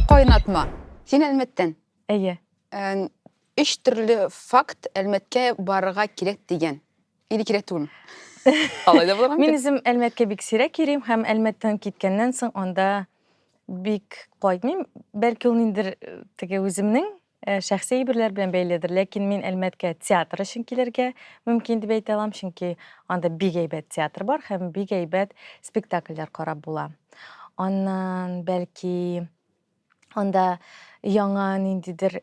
Кайнатма. Син Әлмәттән. Әйе. Өч төрле факт Әлмәткә барырга кирәк дигән. Или кирәк түгелме? Алай да булырга мөмкин. Мин үзем Әлмәткә бик сирәк йөрим һәм Әлмәттән киткәннән соң анда бик кайтмыйм. Бәлки ул ниндер теге үземнең Шәхси әйберләр белән бәйледер, ләкин мин Әлмәткә театр өчен килергә мөмкин дип әйтә алам, чөнки анда бик әйбәт театр бар һәм бик әйбәт спектакльләр карап була. Аннан, бәлки, анда яңа ниндидер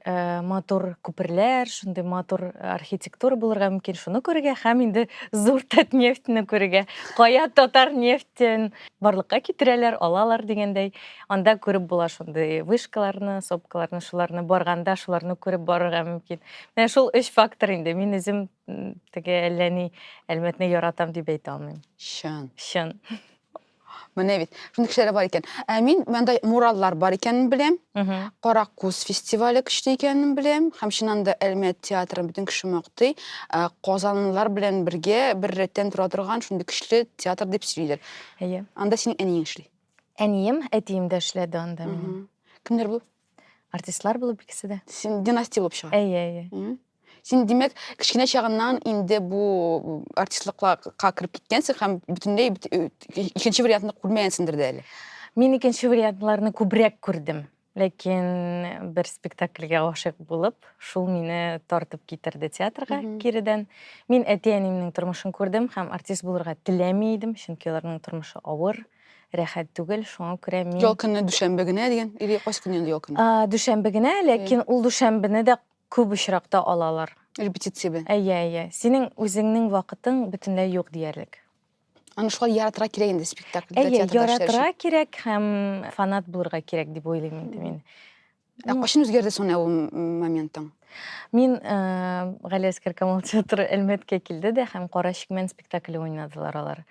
матур күперләр, шундый матур архитектура булырга мөмкин, шуны күрергә һәм инде зур Татнефтьне күрергә. Кая Татарнефтен барлыкка китерәләр, алалар дигәндәй. Анда күреп була шундый вышкаларны, сопкаларны, шуларны барганда, шуларны күреп барырга мөмкин. Менә шул өч фактор инде. Мин үзем теге әллә ни Әлмәтне яратам дип әйтә алмыйм. Чын. Чын. Менә бит. Шундый кешеләр бар икән. Ә мин мондай мураллар бар икәнен беләм. Кара күз фестивале көчле икәнен беләм. Һәм чыннан да Әлмәт театрын бөтен кеше мактый. Ә, Казанлылар белән бергә бер рәттән тора торган шундый көчле театр дип сөйлиләр. Әйе. Анда синең әниең эшли. Әнием, әтием дә эшләде анда минем. Мгм. Кемнәр бу? Артистлар булып икесе дә. Син династия булып чыга. Әйе, әйе. Мгм. Син, димәк, кечкенә чагыннан инде бу артистлыкка кереп киткәнсең һәм бөтенләй бит- э, икенче вариантны күрмәгәнсеңдер дә әле. Мин икенче вариантларны күбрәк күрдем. Ләкин бер спектакльгә гашыйк булып, шул мине тартып китерде театрга киредән. Мин әти-әниемнең тормышын күрдем һәм артист булырга теләми идем, чөнки аларның тормышы авыр, рәхәт түгел. Шуңа күрә мин... Ял көнне дүшәмбе генә дигән, или кайсы көн инде ял көнне? Дүшәмбе генә, ләкин ул дүшәмбене дә күп очракта алалар. Репетиция белән. Әйе, әйе. Синең үзеңнең вакытың бөтенләй юк диярлек. Аны шулай яратырга кирәк инде спектакль. Әйе, яратырга кирәк һәм фанат булырга кирәк дип уйлыйм инде мин. Ә кайчан үзгәрде соң ул моментың? Мин э, Гали Әскәр Камал театры Әлмәткә килде дә һәм Кара чикмән спектакле уйнадылар алар.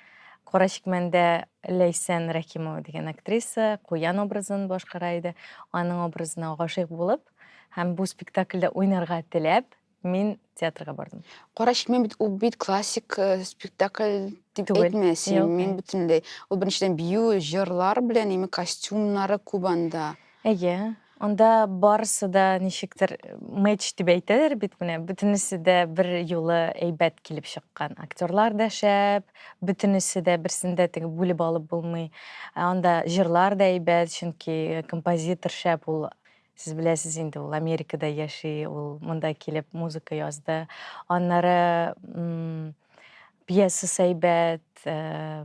Кара чикмәндә Ләйсән Рәхимова дигән актриса Куян образын башкара иде. Аның образына гашыйк булып һәм бу спектакльдә уйнарга теләп, Мин театрга бардым. Кара чикмә бит ул бит классик э, спектакль дип Түгел. әйтмә син. Юк, Мин әй. бөтенләй ул беренчедән бию, җырлар белән именно костюмнары күп анда. Әйе. Анда барысы да ничектер мэч дип әйтәләр бит менә. Бөтенесе дә бер юлы әйбәт килеп чыккан. Актерлар да шәп, бөтенесе дә берсен дә теге бүлеп алып булмый. Ә Анда җырлар да әйбәт, чөнки композитор шәп ул. Сез беләсез инде, ул Америкада яши, ул монда килеп музыка язды. Аннары м, пьесасы әйбәт, э,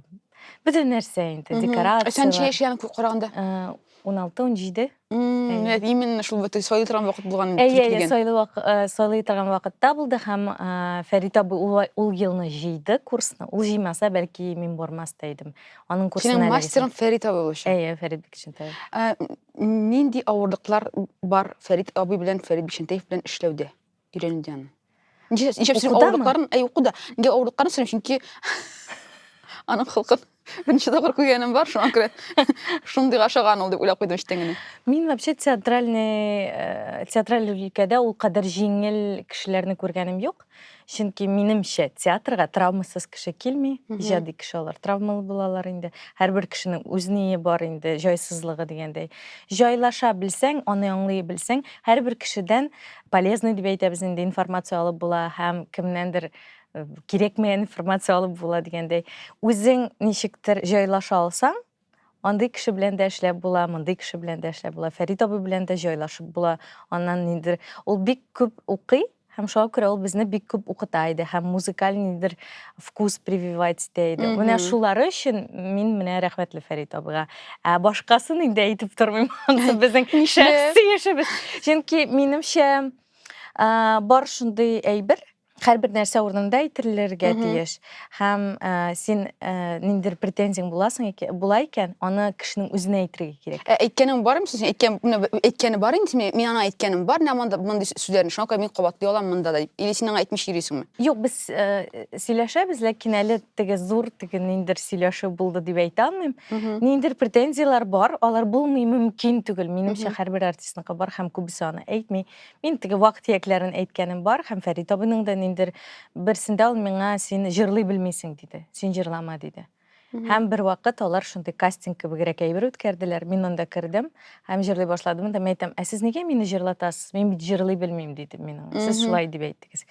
бөтен нәрсә инде, Мгм. декорация. Ә сән ничә яшь янып караганда? 16-17. Мм, Әйе. именно шул бит сайлый торган вакыт булган Әйе, әйе, килгән. сайлы вак- э, сайлый торган вакытта булды һәм э, Фәрит абый ул, ул елны җыйды курсны. Ул җыймаса, бәлки мин бармас та идем. Аның курсына Синең эләгәсем- мастерың Фәрит абый булучы. Әйе, Фәрит Бекчентаев. Ә, Нинди авырлыклар бар Фәрит абый белән Фәрит Бишентеев белән эшләүдә, өйрәнүдә аны? Ничә ничә син Укудамы? авырлыкларын, әй укуда. Нигә авырлыкларын сөйлим, чөнки аның холкын беренче тапкыр күргәнем бар, шуңа күрә шундый ашаган ул дип уйлап куйдым эчтән генә. Мин вообще театральный, э, театраль өлкәдә ул кадәр җиңел кешеләрне күргәнем юк. Чөнки минемчә, театрга травмасыз кеше килми, иҗади кеше алар травмалы булалар инде. Һәрбер кешенең үз ние бар инде, җайсызлыгы дигәндәй. Җайлаша белсәң, аны аңлый белсәң, һәрбер кешедән полезный дип әйтәбез инде, информация алып була һәм кемнәндер э, кирәкмәгән информация алып була дигәндәй. Үзең ничектер җайлаша алсаң, Андый кеше белән дә эшләп була, мондый кеше белән дә эшләп була. Фәрит абый белән дә җайлашып була. Аннан ниндидер ул бик күп укый һәм шуңа күрә ул безне бик күп укыта иде һәм музыкаль ниндидер вкус прививать итә иде. Менә шулары өчен мин менә рәхмәтле Фәрит абыйга. Ә башкасын инде әйтеп тормыйм. Анысы безнең шәхси эшебез. Чөнки минемчә бар шундый әйбер, Һәрбер нәрсә урынында әйтелергә тиеш. Һәм э, син э, ниндидер претензияң буласың икән, була икән, аны кешенең үзенә әйтергә кирәк. Ә әйткәнең бармы син? Әйткән, менә б- әйткәне бар инде синең. Мин аңа әйткәнем бар, менә монда мондый с- сүзләрне. Шуңа күрә мин кабатлый алам монда да дип. Или син аңа әйтмичә йөрисеңме? Юк, без э, сөйләшәбез, ләкин әле теге зур теге ниндидер сөйләшү булды дип әйтә алмыйм. Ниндидер претензияләр бар, алар булмый мөмкин түгел. Минемчә, һәрбер артистныкы бар һәм күбесе аны әйтми. Мин теге вак тиякләрен әйткәнем бар, һәм Фәрит абыйның да ниндер берсендә ул миңа син җырлый белмисең диде, син җырлама диде. Һәм бер вакыт алар шундый кастинг кебегрәк әйбер үткәрделәр, мин анда кердем һәм җырлый башладым да, мин әйтәм, ә сез нигә мине җырлатасыз, мин бит җырлый белмим дидем мин аңа, сез шулай дип әйттегез.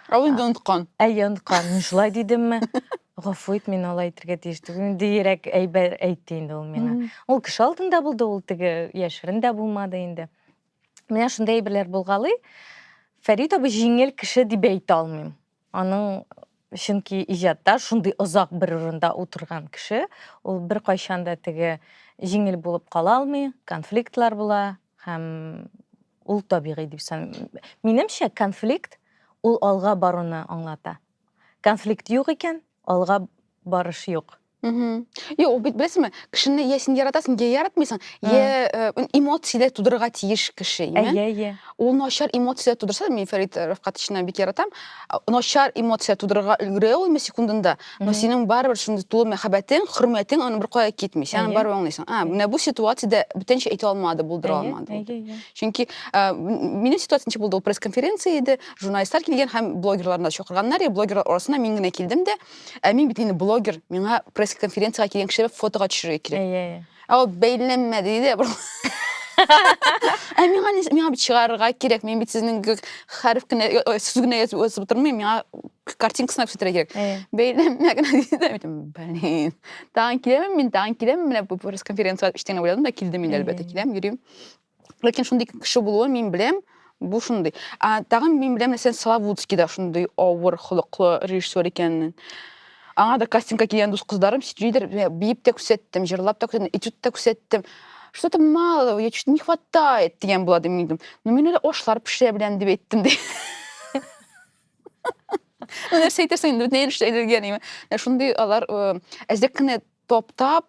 Ә ул инде оныткан. Әйе, оныткан, мин шулай дидемме? Гафу ит, мин алай әйтергә тиеш түгел, диерәк әйбер әйтте инде ул миңа. Ул кеше алдында булды, ул теге яшерен дә булмады инде. Менә шундый әйберләр булгалый. Фәрит абый җиңел кеше дип әйтә алмыйм. Аның чөнки иҗатта шундый озак бер урында утырган кеше, ул бер кайчан да теге җиңел булып кала алмый, конфликтлар була һәм ул табигый дип саныйм. Минемчә, конфликт ул алга баруны аңлата. Конфликт юк икән, алга барыш юк. Юк, бит беләсеңме, кешене я син яратасың, я яратмыйсың, я э, эмоцияләр тудырырга тиеш кеше, имән. Әйе, әйе. Ул начар эмоцияләр тудырса, мин Фәрит Рафкатовичны бик яратам. Начар эмоция тудырырга өлгерә ул секундында, но синең барыбер шундый тулы мәхәббәтең, хөрмәтең аны беркая китми. Син аны барыбер аңлыйсың. А, менә бу ситуациядә бүтәнчә әйтә алмады, булдыра алмады. Әйе, әйе. Чөнки э, минем ситуация ничек булды? Ул пресс-конференция иде, журналистлар килгән һәм блогерларны чакырганнар, и блогерлар арасына мин генә килдем дә, Ә мин бит инде блогер, миңа пресс-конференцияга килгән кешеләр фотога төшерергә кирәк. Әйе, әйе. Ә ул бәйләнмә диде. Ә миңа не, миңа бит чыгарырга кирәк. Мин бит сезнең хәреф кенә, сүз генә язып язып тормыйм. Миңа картинкасына күрсәтергә кирәк. Әйе. Бәйләнмә генә диде. Мин әйттем, блин. Тагын киләмен мин, тагын киләмен. Менә бу пресс-конференциягә эчтән уйладым да килдем инде, әлбәттә, киләм, йөрим. ләкин шундый кеше булуын мин беләм бу шундый ә тагын мин беләм нәрсә славутский да шундый авыр холыклы режиссер икәнен аңа да кастингка килгән дус кызларым сөйлиләр биеп тә күрсәттем җырлап та күрсәттем этюд та күрсәттем что-то мало я чуть не хватает дигән була ди мин әйттем ну мин әле ашлар пешерә беләм дип әйттем ди нәрсә әйтерсең инде бөтенләй эшләгән шундый алар әзрәк кенә Таптап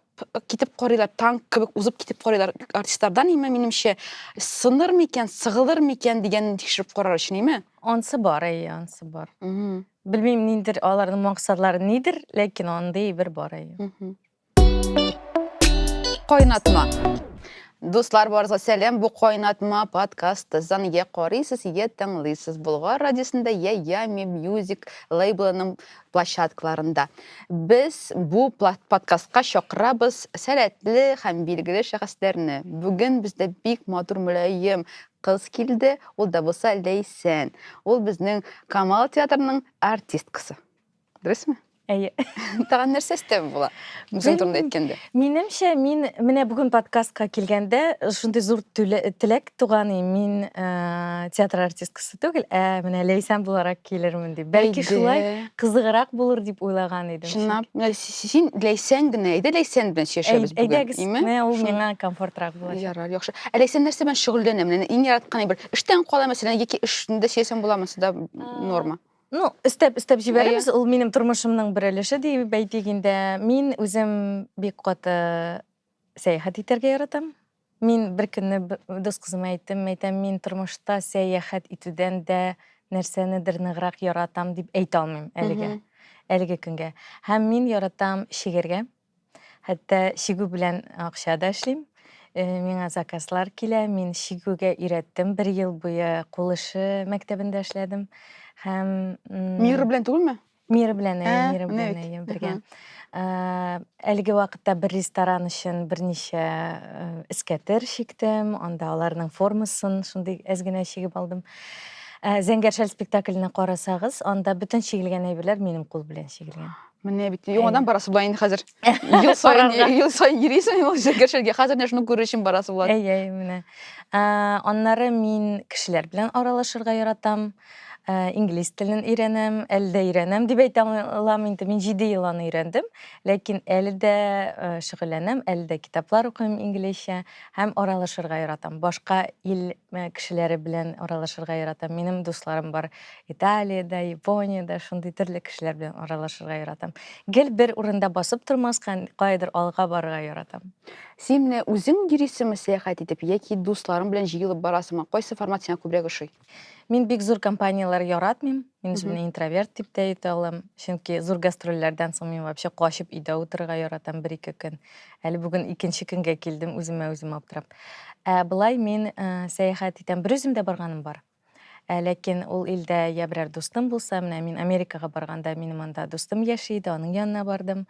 китеп карыйлар, танк кебек узып китеп карыйлар артистлардан, име, минемчә, сыныр микән, сыгылыр микән дигәнне тикшереп карар өчен, име? Ансы бар, әйе, ансы бар. Белмим, ниндер аларның максатлары нидер, ләкин андый бер бар, әйе. Кайнатма. Дуслар барыгызга сәлам. Бу кайнатма подкасты зан я карыйсыз, я тыңлыйсыз. Болгар радиосында я Ями Music лейблының площадкаларында. Без бу подкастка чакырабыз сәләтле һәм билгеле шәхесләрне. Бүген бездә бик матур мөлаем кыз килде, ул да булса Ләйсән. Ул безнең Камал театрының артисткасы. Дөресме? Әйе. Тагын нәрсә өстәп була? Үзең турында әйткәндә. Минемчә, мин менә бүген подкастка килгәндә шундый зур теләк Туганым, мин театр артисткасы түгел, ә менә Ләйсән буларак килермен дип. Бәлки шулай кызыграк булыр дип уйлаган идем. Чынлап, син Ләйсән генә, әйдә Ләйсән белән сөйләшәбез бүген. Әйдәгез, менә ул миңа комфортрак булачак. Ярар, яхшы. Ә Ләйсән нәрсә белән шөгыльләнә? Менә иң яраткан бер эштән кала мәсәлән, яки эшендә сөйләсәң буламы, да норма? Ну, өстәп, өстәп җибәрәбез. Ул минем тормышымның бер өлеше дип әйтик инде. Мин үзем бик каты Сәяхәт итәргә яратам. Мин беркөнне дус кызыма әйттем, әйтәм, мин тормышта сәяхәт итүдән дә нәрсәнедер ныграк яратам дип әйтә алмыйм әлегә, әлеге көнгә. Һәм мин яратам чигергә. Хәтта чигү белән акча да эшлим. Э, миңа заказлар килә, мин чигүгә өйрәттем. Бер ел буе кул эше мәктәбендә эшләдем. Һәм Мир белән түгелме? Мир белән әйе, мир белән әйе, бергә. Әлеге вакытта бер ресторан өчен берничә эскәтер чиктем, анда аларның формасын шундый әз генә чигеп алдым. Зәңгәр шәл спектакленә карасагыз, анда бөтен чигелгән әйберләр минем кул белән чигелгән. Менә бит яңадан барасы була инде хәзер. Ел саен ел саен йөрисең ул зәңгәр шәлгә. Хәзер менә шуны күрер өчен барасы була. Әйе, әйе, менә. Аннары мин кешеләр белән аралашырга яратам. Инглиз телен өйрәнәм, әле дә өйрәнәм дип әйтә алам инде. Мин җиде ел аны өйрәндем, ләкин әле дә шөгыльләнәм, әле дә китаплар укыйм инглизчә һәм аралашырга яратам. Башка ил кешеләре белән аралашырга яратам. Минем дусларым бар Италиядә, Япониядә, шундый төрле кешеләр белән аралашырга яратам. Гел бер урында басып тормаска, каядыр алга барырга яратам. Син менә үзең йөрисеңме сәяхәт итеп яки дусларың белән җыелып барасыңмы? Кайсы формат сиңа күбрәк ошый? Мин бик зур компанияләр яратмыйм. Мин үземне интроверт дип тә әйтә алам. Чөнки зур гастрольләрдән соң мин вообще качып өйдә утырырга яратам бер-ике көн. Әле бүген икенче көнгә килдем үземә үзем аптырап. Ә былай мин ә, э, сәяхәт итәм. Бер үзем дә барганым бар. Ә, ләкин ул илдә я берәр дустым булса, менә мин Америкага барганда минем анда дустым яши иде, аның янына бардым.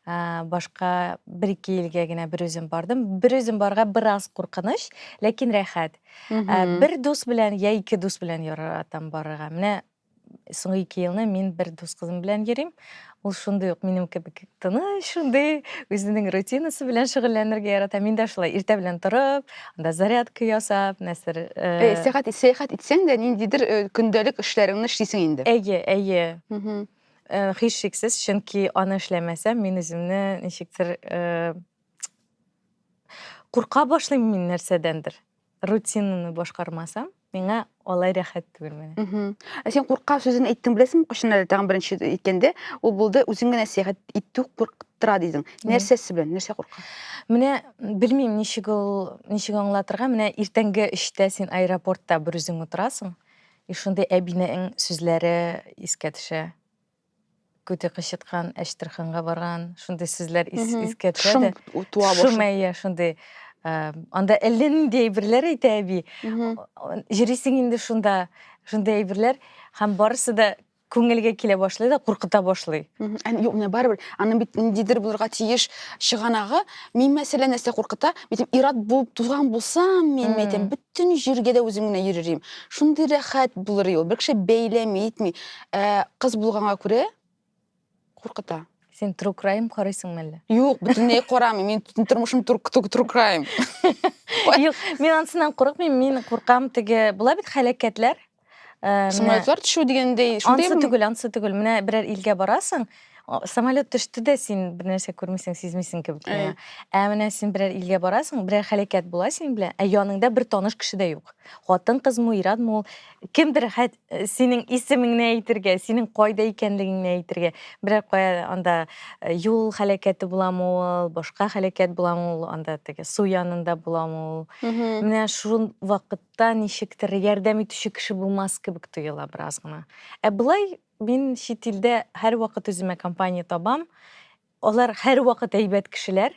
Ә, башка бер-ике илгә генә бер үзем бардым. Бер үзем барга бераз куркыныч, ләкин рәхәт. Ә, бер дус белән я ике дус белән яратам барырга. Менә соңгы ике елны мин бер дус кызым белән йөрим. Ул шундый ук минем кебек тыныч, шундый үзенең рутинасы белән шөгыльләнергә ярата. Мин дә шулай иртә белән торып, анда зарядка ясап, нәрсәдер. Э, сәяхәт сәяхәт итсәң дә ниндидер э, көндәлек эшләреңне эшлисең инде. Әйе, әйе. Э, һичшиксез, чөнки аны эшләмәсәм, мин үземне ничектер э, Курка башлыйм мин нәрсәдәндер. Рутинаны башкармасам, миңа алай рәхәт түгел менә. Мгм. Ә син курка сүзен әйттең беләсеңме? Кайчан әле тагын беренче әйткәндә ул булды, үзең генә сәяхәт итү куркыттыра дидең. Мгм. Нәрсәсе белән? Нәрсә курка? Менә белмим ничек ул, ничек аңлатырга, менә иртәнге өчтә син аэропортта берүзең утырасың, и шундый әбинең сүзләре искә төшә. Күте кычыткан, Әчтерханга барган, шундый сүзләр ис, Мгм. искә төшә Шым дә. у- туа Шым, башлый. әйе, шундый. Ә, Анда әллә нинди әйберләр әйтә әби. Мгм. О- Йөрисең инде шунда, шундый әйберләр. Һәм барысы да күңелгә килә башлый да, куркыта башлый. Мгм. Ән- Юк, менә барыбер. Аның бит ниндидер булырга тиеш чыганагы. Мин мәсәлә нәрсә куркыта? Мин әйтәм, ир-ат булып туган булсам, мин Мм. әйтәм, бөтен җиргә дә үзем генә йөрер идем. Шундый рәхәт булыр иде ул. Бер кеше бәйләми, итми. Ә, кыз булганга күрә куркыта. Син True Crime карыйсыңмы әллә? Юк, бөтенләй карамыйм. Мин бөтен тормышым True True- True Crime. Юк, мин ансынан курыкмыйм, мин куркам теге. Була бит хәләкәтләр. Э, менә Самолетлар төшү дигәндәй, шундый Ансы түгел, ансы түгел. Менә берәр илгә барасың, о, самолет төште дә син бер нәрсә күрмисең, сизмисең кебек. Әй. менә. Ә менә син берәр илгә барасың, берәр хәләкәт була син белән, ә яныңда бер таныш кеше дә юк. Хатын кызмы, ирадмы ул? Кемдер хәт Э, синең исемеңне әйтергә синең кайда икәнлегеңне әйтергә берәр кая анда э, юл һәлакәте буламы ул башка һәлакәт буламы ул анда теге су янында буламы ул менә шул вакытта ничектер ярдәм итүче кеше булмас кебек тоела бераз гына ә былай мин чит илдә һәрвакыт үземә компания табам Алар һәрвакыт әйбәт кешеләр.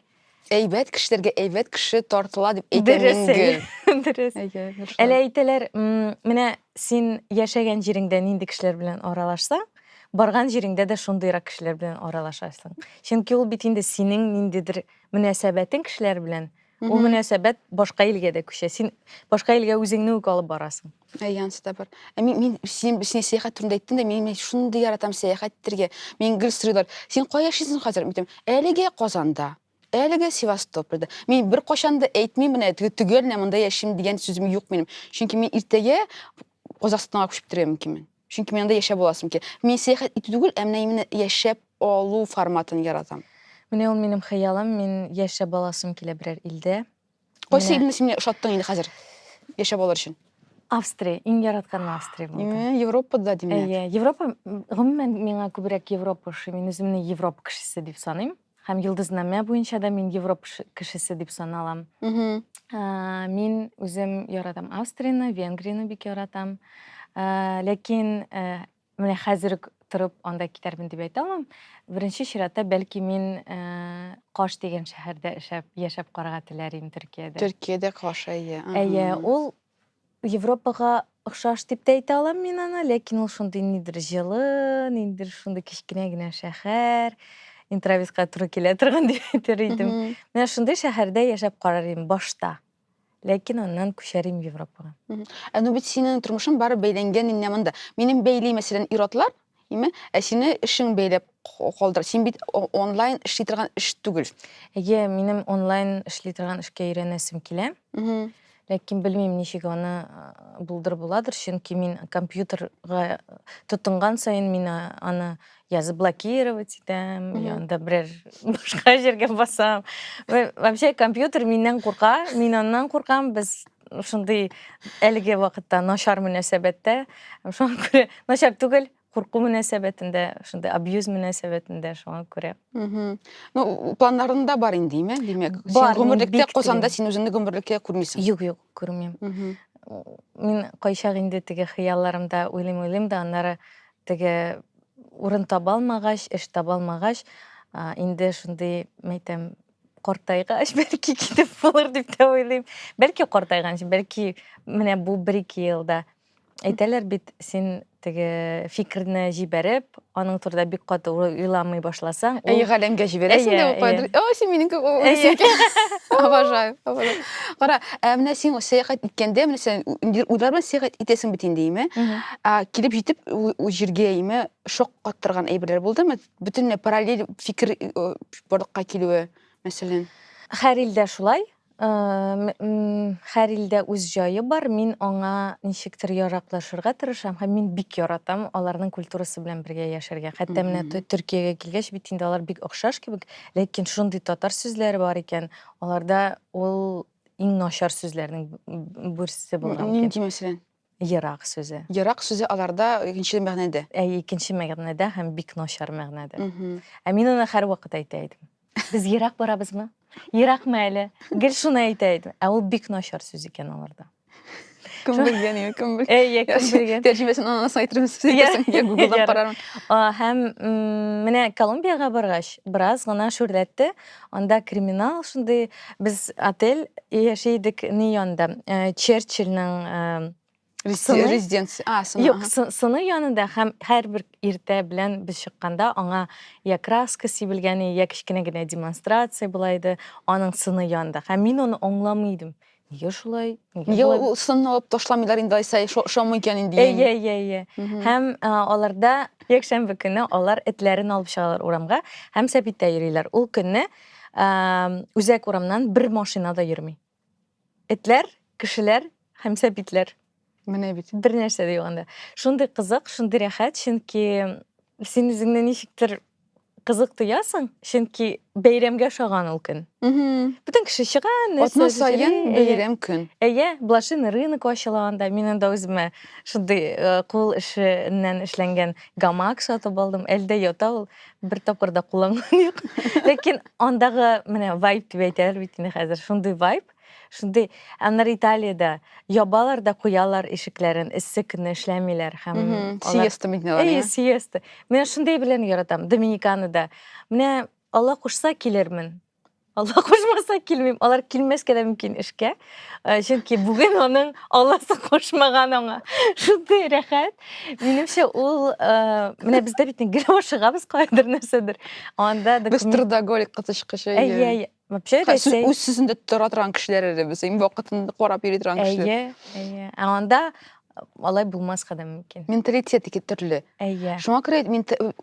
Әйбәт кешеләргә әйбәт кеше тартыла дип әйтә Дөрес, Мингөл. әйе, дөрес. Әйе, дөрес шулай. Әле әйтәләр, м, менә син яшәгән җиреңдә нинди кешеләр белән аралашсаң, барган җиреңдә дә шундыйрак кешеләр белән аралашасың. Чөнки ул бит инде синең ниндидер мөнәсәбәтең кешеләр белән Ул мөнәсәбәт башка илгә дә күчә. Син башка илгә үзеңне үк алып барасың. Янсы да бар. Ә мин, мин син, син сәяхәт турында әйттең дә, мин, мин шундый яратам сәяхәт итәргә. Мин гел сорыйлар, син кая яшисең хәзер? Мин әлегә Казанда, әлегә Севастопольда. Мин бер качан да әйтмим менә төгәл менә монда яшим дигән сүзем юк минем. Чөнки мин иртәгә Казахстанга күчеп китәргә мөмкинмен. Чөнки мин анда яшәп аласым килә. Мин сәяхәт итү түгел, ә менә именно яшәп алу форматын яратам. Менә ул минем хыялым, мин яшәп аласым килә берәр илдә. Кайсы илне син ошаттың инде хәзер яшәп алыр өчен? Австрия, иң яратканым Австрия булды. Европада димәк. Әйе, Европа, гомумән миңа күбрәк Европа ошый. Мин үземне Европа кешесе дип саныйм. Һәм йолдызнамә буенча да мин Европа кешесе дип саналам. Мин үзем яратам Австрияны, Венгрияны бик яратам. Ләкин менә хәзер үк торып анда китәрмен дип әйтә алмам. Беренче чиратта бәлки мин Каш дигән шәһәрдә яшәп карарга теләр идем Төркиядә. Төркиядә Каш, әйе. Әйе, ул Европага охшаш дип тә әйтә алам мин аны, ләкин ул шундый нидер җылы, ниндер шундый кечкенә генә шәһәр, интровизга туры килә торган дип әйтер идем. Менә шундый шәһәрдә яшәп карар идем башта. Ләкин аннан күчәр идем Европага. Ә ну бит синең тормышың бары бәйләнгән инде монда. Минем бәйли мәсәлән ир-атлар, Әйме? Ә сине эшең бәйләп калдыр. Син бит онлайн эшли торган эш түгел. Әйе, минем онлайн эшли торган эшкә өйрәнәсем килә. Ләкин белмим, ничек аны булдыр буладыр, чөнки мин компьютерга тотынган саен мин аны я заблокировать итәм, я анда берәр башка җиргә басам. Вообще компьютер миннән курка, мин аннан куркам, без шундый әлеге вакытта начар мөнәсәбәттә шуңа күрә начар түгел курку мөнәсәбәтендә шундый абьюз мөнәсәбәтендә шуңа күрә ну планнарында бар инде име димәк син гомерлектә косанда син үзеңне гомерлеккә күрмисең юк юк күрмим мин кайчак инде теге хыялларымда уйлыйм уйлыйм да аннары теге урын таба алмагач эш таба алмагач инде шундый мәйтәм картайгач бәлки китеп булыр дип тә уйлыйм бәлки картайганчы бәлки менә бу бер ике елда әйтәләр бит син теге фикерне җибәреп аның турында бик каты уйламый башласаң әйе галәмгә җибәрәсең дә укыйдыр о син минем кебек обожаю кара ә менә син сәяхәт иткәндә менә сен уйлар белән сәяхәт итәсең бит инде име килеп җитеп җиргә име шок каттырган әйберләр булдымы бөтенләй параллель фикер барлыкка килүе мәсәлән һәр илдә шулай һәр илдә үз җае бар мин аңа ничектер яраклашырга тырышам һәм мин бик яратам аларның культурасы белән бергә яшәргә хәтта менә төркиягә килгәч бит инде алар бик охшаш кебек ләкин шундый татар сүзләре бар икән аларда ул иң начар сүзләрнең берсе булган нинди мәсәлән Ерак сүзе. Ерак сүзе аларда икенче мәгънәдә. Әй, икенче мәгънәдә һәм бик начар мәгънәдә. Ә мин аны һәрвакыт әйтә идем. Без ерак барабызмы? Еракмы әле? Гел шуны әйтә идем. Ә ул бик начар сүз икән аларда. Кем белгән инде, кем белгән. Әй, я кем белгән. Тәрҗемәсен аннан соң әйтербез. Я гуглдан карармын. Һәм менә Колумбиягә баргач, бераз гына шүрләтте. Анда криминал шундый без отель яши идек ни янында э, Черчилльнең э, Сыны? Резиденция. А, сыны. Юк, ага. сыны янында һәм һәрбер иртә белән без чыкканда аңа я краска сибелгәне, я кечкенә генә демонстрация була иде, аның сыны янында. Һәм мин аны аңламый идем. Нигә шулай? Нигә ул сын алып ташламыйлар инде Айсай, шома икән инде. Әйе, әйе, әйе. Һәм аларда якшәмбе көне алар этләрен алып чыгалар урамга һәм сәбиттә йөриләр. Ул көнне үзәк урамнан бер машина да йөрми. Этләр, кешеләр һәм сәбитләр. Менә бит. Бер нәрсә дә юк анда. Шундый кызык, шундый рәхәт, чөнки син үзеңне ничектер кызык тоясың, чөнки бәйрәмгә ошаган ул көн. Бөтен кеше чыга, нәрсә Атна саен бәйрәм көн. Әйе, блошиный рынок ачыла анда. Мин анда үземә шундый э, кул эшеннән эшләнгән гамак сатып алдым. Әлдә ята ул, бер тапкыр да кулланган юк. Ләкин андагы менә вайб дип әйтәләр бит инде хәзер. Шундый вайб. Шундый, аннары Италиядә ябалар да куялар ишекләрен, эссе көнне эшләмиләр һәм Мгм. алар Сиеста бит алар, Әйе, иә. сиеста. Менә шундый белән яратам. Доминиканада. Менә Алла кушса килермен. Алла кушмаса килмим. Алар килмәскә дә мөмкин эшкә. Э, Чөнки бүген аның Алласы кушмаган аңа. Шундый рәхәт. Минемчә ул э, менә бездә бит гел ашыгабыз кайдыр нәрсәдер. Анда Без документ трудоголик кытычкычы. Әйе, әйе. Вообще Рәсәй. Үз сүзендә тора торган кешеләр әле без. Иң вакытын карап йөри торган кешеләр. Әйе, әйе. Ә анда алай булмаска да мөмкин. Менталитет ике төрле. Әйе. Шуңа күрә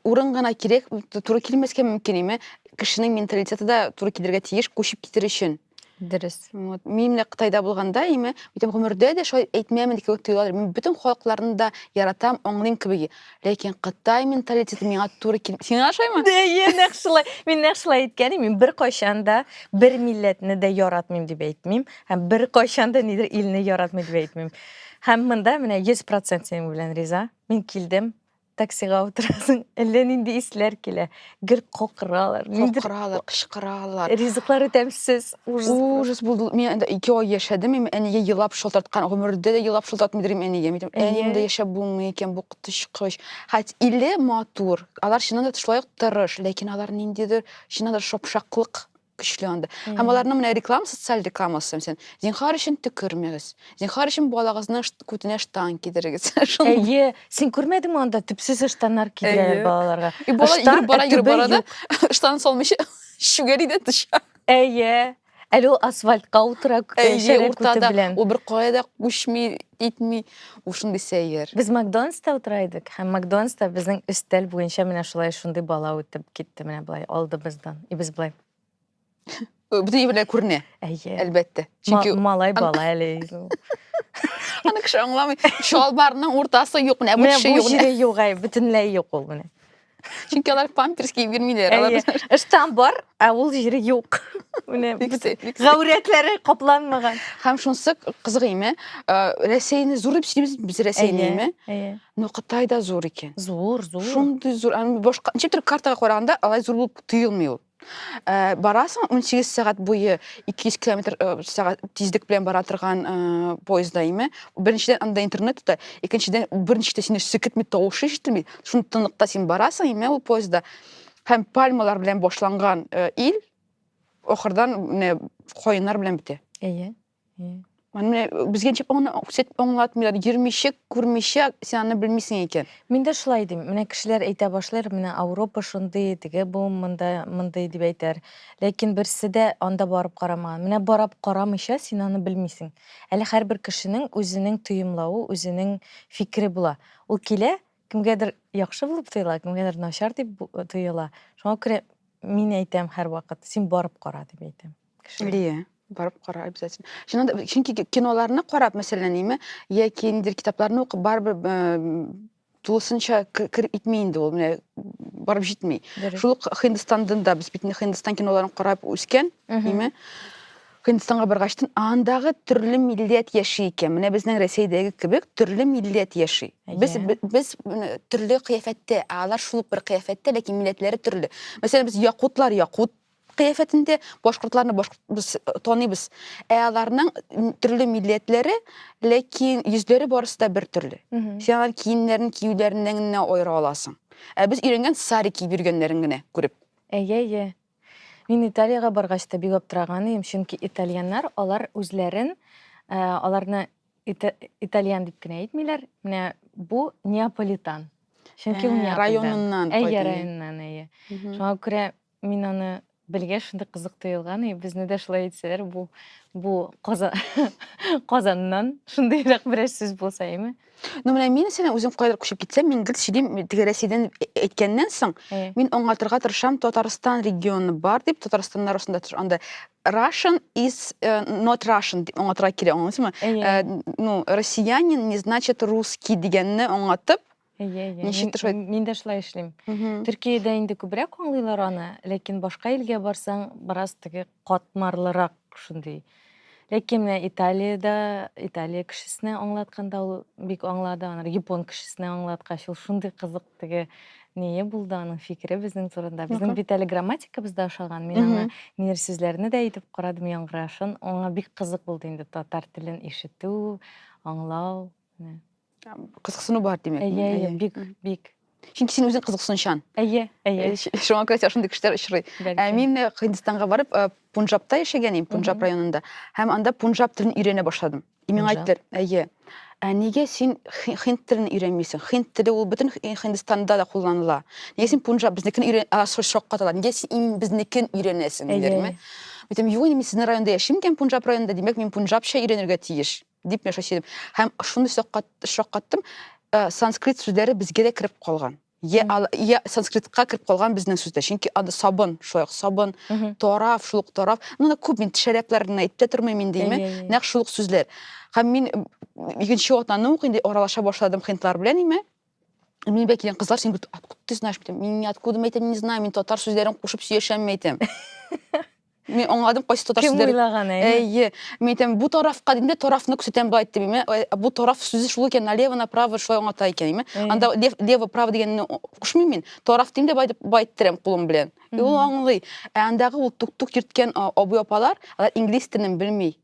урын гына кирәк, туры килмәскә мөмкин име? Кешенең менталитеты да туры килергә тиеш, күчеп китер өчен. Дөрес. Вот. Мин менә Кытайда булганда, име, битем гомердә дә шулай әйтмәмен кебек тоела. Мин бөтен халыкларны да яратам, аңлыйм кебек. ләкин кытай менталитеты миңа туры килми сиңа ошаймы әйе нәкъ шулай мин нәкъ шулай әйткән мин беркайчан да бер милләтне дә яратмыйм дип әйтмим һәм беркайчан да нидер илне яратмый дип әйтмим һәм монда менә йөз процент синең белән риза мин килдем таксига утырасың әллә нинди исләр килә гел кокыралар кокыралар кычкыралар ризыклары тәмсез ужас булды мин анда ике ай яшәдем мин әнигә елап шалтырткан гомердә дә елап шалтыратмыйдыр идем әнигә мин әниемдә яшәп булмый икән бу коточкыч хоть иле матур алар чыннан да шулай ук тырыш ләкин алар ниндидер чыннан да шапшаклык көчле анда һәм аларның менә реклама социаль рекламасы мәсәлән зинхар өчен төкермәгез зинхар өчен балагызның күтенә штан кидерегез әйе син күрмәдеңме анда төпсез ыштаннар кидерәләр балаларга и бала йөреп бара йөреп бара да ыштан салмыйча шүгәри дә төшә әйе әле ул асфальтка утыра шәрә күте белән ул бер кая да күчми итми Ул шундый сәер. Без Макдональдста утыра идек һәм Макдональдста безнең өстәл буенча менә шулай шундый бала үтеп китте менә болай алдыбыздан. И без болай. Бүтән җир белән күренә. Әйе. Әлбәттә. Чөнки малай бала әле. Аны кеше аңламый. Чалбарның уртасы юк, менә бу төше юк. Менә бу җире юк, бөтенләй юк ул менә. Чөнки алар памперс киеп йөрмиләр. Әйе. Ыштан бар, ә ул җире юк. Менә гәүрәтләре капланмаган. Һәм шунсы кызыгыйме? Рәсәйне зур дип сөйлибез без Рәсәйнеме? Әйе. Но Кытай да зур икән. Зур, зур. Шундый зур. Башка ничектер картага караганда алай зур булып тоелмый ул. Э, барасың 18 сәгать буе 200 километр э, сәгать тизлек белән бара торган э, поездда име беренчедән анда интернет та икенчедән берничә дә сине сикетми тавышы ишетелми шуны тынлыкта син барасың име ул поездда һәм пальмалар белән башланган ил ахырдан менә каеннар белән бетә әйе Менә безгә ничек аны күрсәт аңлатмыйлар, йөрмичек, күрмичә син аны белмисең икән. Мин дә шулай дим. Менә кешеләр әйтә башлар, менә Ауропа шундый, теге бу монда мондый дип әйтәр. Ләкин берсе дә анда барып карамаган. Менә барап карамыйча син аны белмисең. Әле һәрбер кешенең үзенең тоемлавы, үзенең фикере була. Ул килә, кемгәдер яхшы булып тоела, кемгәдер начар дип тоела. Шуңа күрә мин әйтәм һәрвакыт, син барып кара дип әйтәм. кешеләр. Лия, барып кара обязательно. Чыннан да, чөнки ки- киноларны карап, мәсәлән, име, яки ниндидер китапларны укып, барыбер э, тулысынча к- кер итми инде ул, менә барып җитми. Дөрес. Шул ук Һиндстандан да без бит инде Һиндстан киноларын карап үскән, Мгм. име? Һиндстанга баргачтын, андагы төрле милләт яши икән. Менә безнең Рәсәйдәге кебек төрле милләт яши. Без Әйе. б- без менә төрле кыяфәттә, ә алар шул ук бер кыяфәттә, ләкин милләтләре төрле. Мәсәлән, без якутлар якут кыяфәтендә башкортларны башкорт без таныйбыз ә аларның төрле милләтләре ләкин йөзләре барысы да бер төрле син алар киемнәрен киюләреннән генә аера аласың ә без өйрәнгән сари киеп йөргәннәрен генә күреп әйе әйе мин италиягә баргач та бик аптыраган идем чөнки итальяннар алар үзләрен э, аларны итальян дип кенә әйтмиләр менә бу неаполитан чөнки ул э, районыннан әйе районыннан әйе шуңа күрә Мин аны белгәч шундый кызык тоелган, и безне дә шулай әйтсәләр, бу бу Каза Казаннан шундыйрак берәр сүз булса, әйме? Ну менә мин сине үзем кайдыр күчеп китсәм, мин гел сөйлим, теге Рәсәйдән әйткәннән соң, Э. мин аңлатырга тырышам, Татарстан регионы бар дип, Татарстаннар ошында тыш- анда Russian is э, not Russian дип аңлатырга кирәк, аңлыйсызмы? Әйе. Э, ну, россиянин не значит русский дигәнне аңлатып, Әйе, әйе. Ничек тыш Мин, мин дә шулай эшлим. Төркиядә инде күбрәк аңлыйлар аны, ләкин башка илгә барсаң, бераз теге катмарлырак шундый. Ләкин менә Италиядә, Италия кешесенә аңлатканда ул бик аңлады, анар япон кешесенә аңлаткач ул шундый кызык теге ние булды аның фикере безнең турында. Безнең бит әле грамматикабыз да ашаган. Мин аңа минер сүзләрне дә әйтеп карадым яңгырашын. Аңа бик кызык булды инде татар телен ишетү, аңлау. кызыксыну бар димәк әйе әйе бик бик чөнки син үзең кызыксынучан әйе әйе шуңа күрә сиңа шундый кешеләр очрый ә мин һиндстанга барып пунжабта яшәгән идем пунжаб районында һәм анда пунжаб телен өйрәнә башладым и миңа әйттеләр әйе ә нигә син хинд телен өйрәнмисең хинд теле ул бөтен һиндстанда да кулланыла нигә син пунжаб безнекен өйрән шаккаталар нигә син иң безнекен өйрәнәсең диләрме әйтәм юк мин сезнең районда яшим икән пунжаб районында димәк мин пунжабча өйрәнергә тиеш Дип мин шушы идем. Һәм шуны шаккаттым, э, санскрит сүзләре безгә дә кереп калган. Я, я санскритка кереп калган безнең сүздә. Чөнки ады сабын, шулай сабын, тарав, шул ук тарав. Ну, на күп мин тешәрәпләрен әйтә тормыйм инде, име? Нәкъ шул ук сүзләр. Һәм мин икенче атнаның ук инде аралаша башладым хинтлар белән, име? Мин бәк килгән кызлар син бит откуда ты знаешь бит. Мин откуда мәйтә не знаю, мин татар сүзләрен кушып сөйләшәм мәйтәм. Мин аңладым кайсы татар сүзләре. Кем уйлаган әй? Әйе. Мин әйтәм, бу тарафка димдә тарафны күрсәтәм бай дип. Мин бу тараф сүзе шул икән, налево, направо шулай аңлата икән. Мин анда лев, лево, право дигәнне кушмыйм мин. Тараф димдә бай дип бай иттерәм кулым белән. Ул аңлый. Ә андагы ул тук-тук йөрткән абый апалар, алар инглиз телен белми.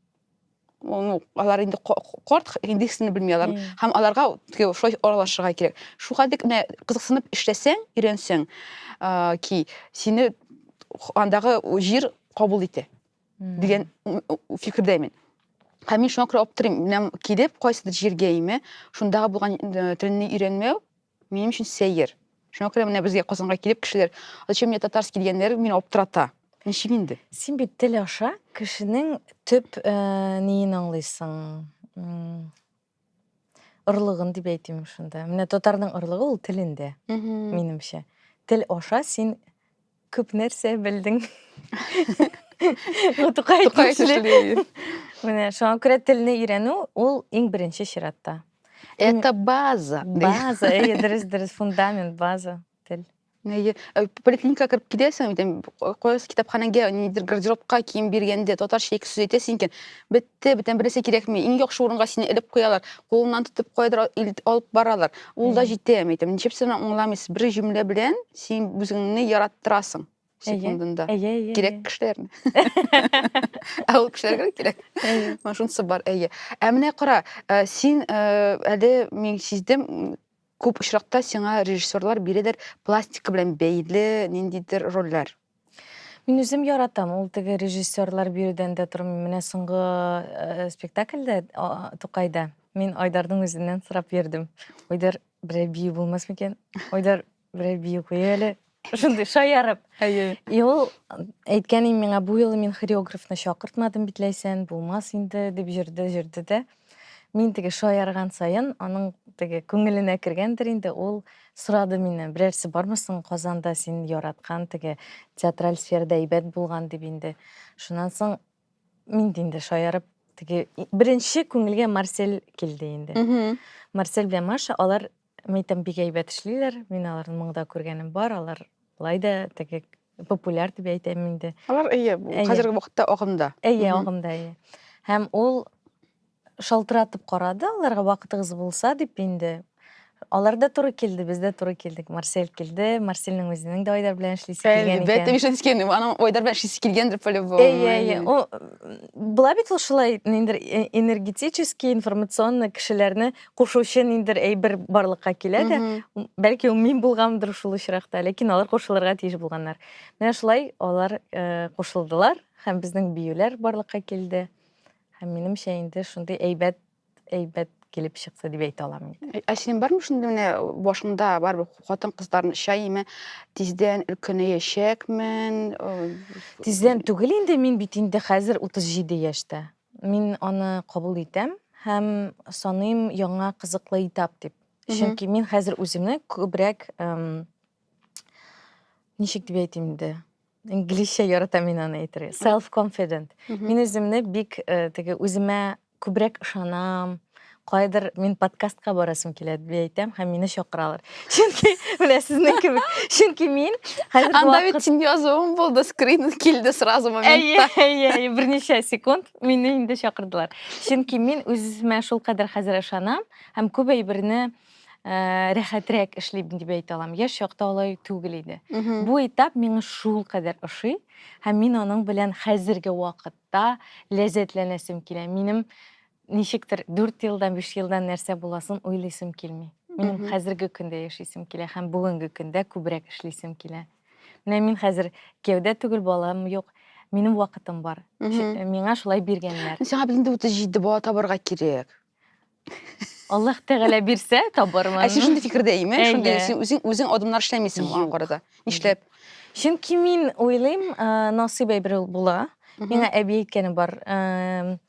алар инде корт инде исемне белми алар һәм аларга шулай аралашырга кирәк шул хәлдә менә кызыксынып эшләсәң өйрәнсәң ки сине андагы җир кабул итә дигән фикердәмен һәм мин шуңа күрә аптырыйм менә килеп кайсыдыр җиргә име шундагы булган э, телне өйрәнмәү минем өчен сәер. Шуңа күрә менә безгә Казанга килеп кешеләр, зачем мне татарский дигәннәр мине аптырата. Ничек инде? Син бит тел аша кешенең төп э, ниен аңлыйсың? Орлыгын дип әйтим шунда. Менә татарның орлыгы ул телендә, минемчә. Тел аша син Күп нәрсә белдең. Бу Тукай Тукай тиешле. тиешле ир. Менә шуңа күрә телне өйрәнү ул иң беренче чиратта. Это база. ди. База, әйе, дөрес, дөрес, фундамент, база, тел. Әйе. Э, Поликлиникага кереп киләсең, дим, кайсы китапханәгә, нидер гардеробка кием биргәндә татарча ике сүз әйтәсең икән. Бит Те, бөтен бересе кирәкми. Иң яхшы урынга сине элеп куялар. Кулыңнан тотып кайдыр алып баралар. Ул да җитә, әйтәм. Ничек сине аңламыйсыз? Бер җөмлә белән син үзеңне яраттырасың секундында. Әйе, әйе. Кирәк кешеләрне. Ә ул кешеләргә кирәк. Менә шунысы бар, әйе. Ә менә кара, э, син э, әле мин сиздем, күп очракта сиңа режиссерлар бирәләр пластика белән бәйле ниндидер рольләр. Мин үзем яратам, ул теге режиссерлар биредән дә тормый. Менә соңгы э, спектакльдә а, Тукайда мин Айдардың үзеннән сорап йөрдем. Айдар берәр бию булмас микән? Айдар берәр бию куй әле. Шундый шаярып. Әйе. И ул әйткән миңа бу юлы мин хореографны чакыртмадым битләйсән, булмас инде дип җырды, җырды да. Мин теге шаярган саен, аның теге күңеленә кергәндер инде, ул сорады миннән, берәрсе бармы соң Казанда син яраткан теге театраль сферада әйбәт булган дип инде. Шуннан соң мин дә инде шаярып теге беренче күңелгә Марсель килде инде. Марсель белән Маша алар Мәйтәм, бик әйбәт эшлиләр. Мин аларны моңда күргәнем бар. Алар лай да теге популяр дип әйтәм инде. Алар әйе, хәзерге вакытта агымда. Әйе, агымда әйе. Һәм ул шалтыратып карады, аларга вакытыгыз булса дип инде. Алар да туры килде, без дә туры килдек. Марсель килде, Марсельнең үзенең дә Айдар белән эшлисе килгән икән. Әлбәттә, мин шәнскән, аның Айдар белән эшлисе килгәндер по-любому. Әйе, әйе. Ул була бит ул шулай энергетический, информационный кешеләрне кушучы ниндидер әйбер барлыкка килә дә бәлки ул мин булганмындыр шул очракта ләкин алар кушылырга тиеш булганнар менә шулай алар э, кушылдылар һәм безнең биюләр барлыкка килде һәм минемчә инде шундый әйбәт әйбәт килеп чыкты дип әйтә алам инде ә синең бармы шундый менә башыңда барыбер хатын кызларны чаймы тиздән өлкәнәячәкмен тиздән түгел инде мин бит инде хәзер утыз җиде яшьтә Мин аны кабул итәм һәм саныйм яңа кызыклы этап дип. Чөнки мин хәзер үземне күбрәк ничек дип әйтим инде? Инглизчә яратам мин аны әйтергә. Self confident. Мин үземне бик теге үземә күбрәк ышанам, кайдыр мин подкастка барасым килә дип әйтәм һәм мине чакыралар чөнки менә сезнең кебек чөнки мин хәзерге анда бит синең язуың булды скрин килде сразу моментта әйе әйе берничә секунд мине инде чакырдылар чөнки мин үземә шулкадәр хәзер ышанам һәм күп әйберне э, рәхәтрәк эшлим дип әйтә алам яшь чакта алай түгел иде бу этап миңа шулкадәр ошый һәм мин аның белән хәзерге вакытта ләззәтләнәсем килә минем Ничектер дүрт елдан, биш елдан нәрсә буласын уйлыйсым килми. Минем хәзерге көндә яшисем килә һәм бүгенге көндә күбрәк эшлисем килә. Менә мин хәзер кияүдә түгел, балам юк. Минем вакытым бар. Миңа шулай биргәннәр. Сиңа бит инде 37 бала табарга кирәк. Аллаһ Тәгалә бирсә, табармын. Ә син шундый фикердә име? Шундый син үзең үзең адымнар эшләмисең аңа карата. Нишләп? Чөнки мин уйлыйм, насыйп әйбер ул була. Миңа әби әйткәне бар.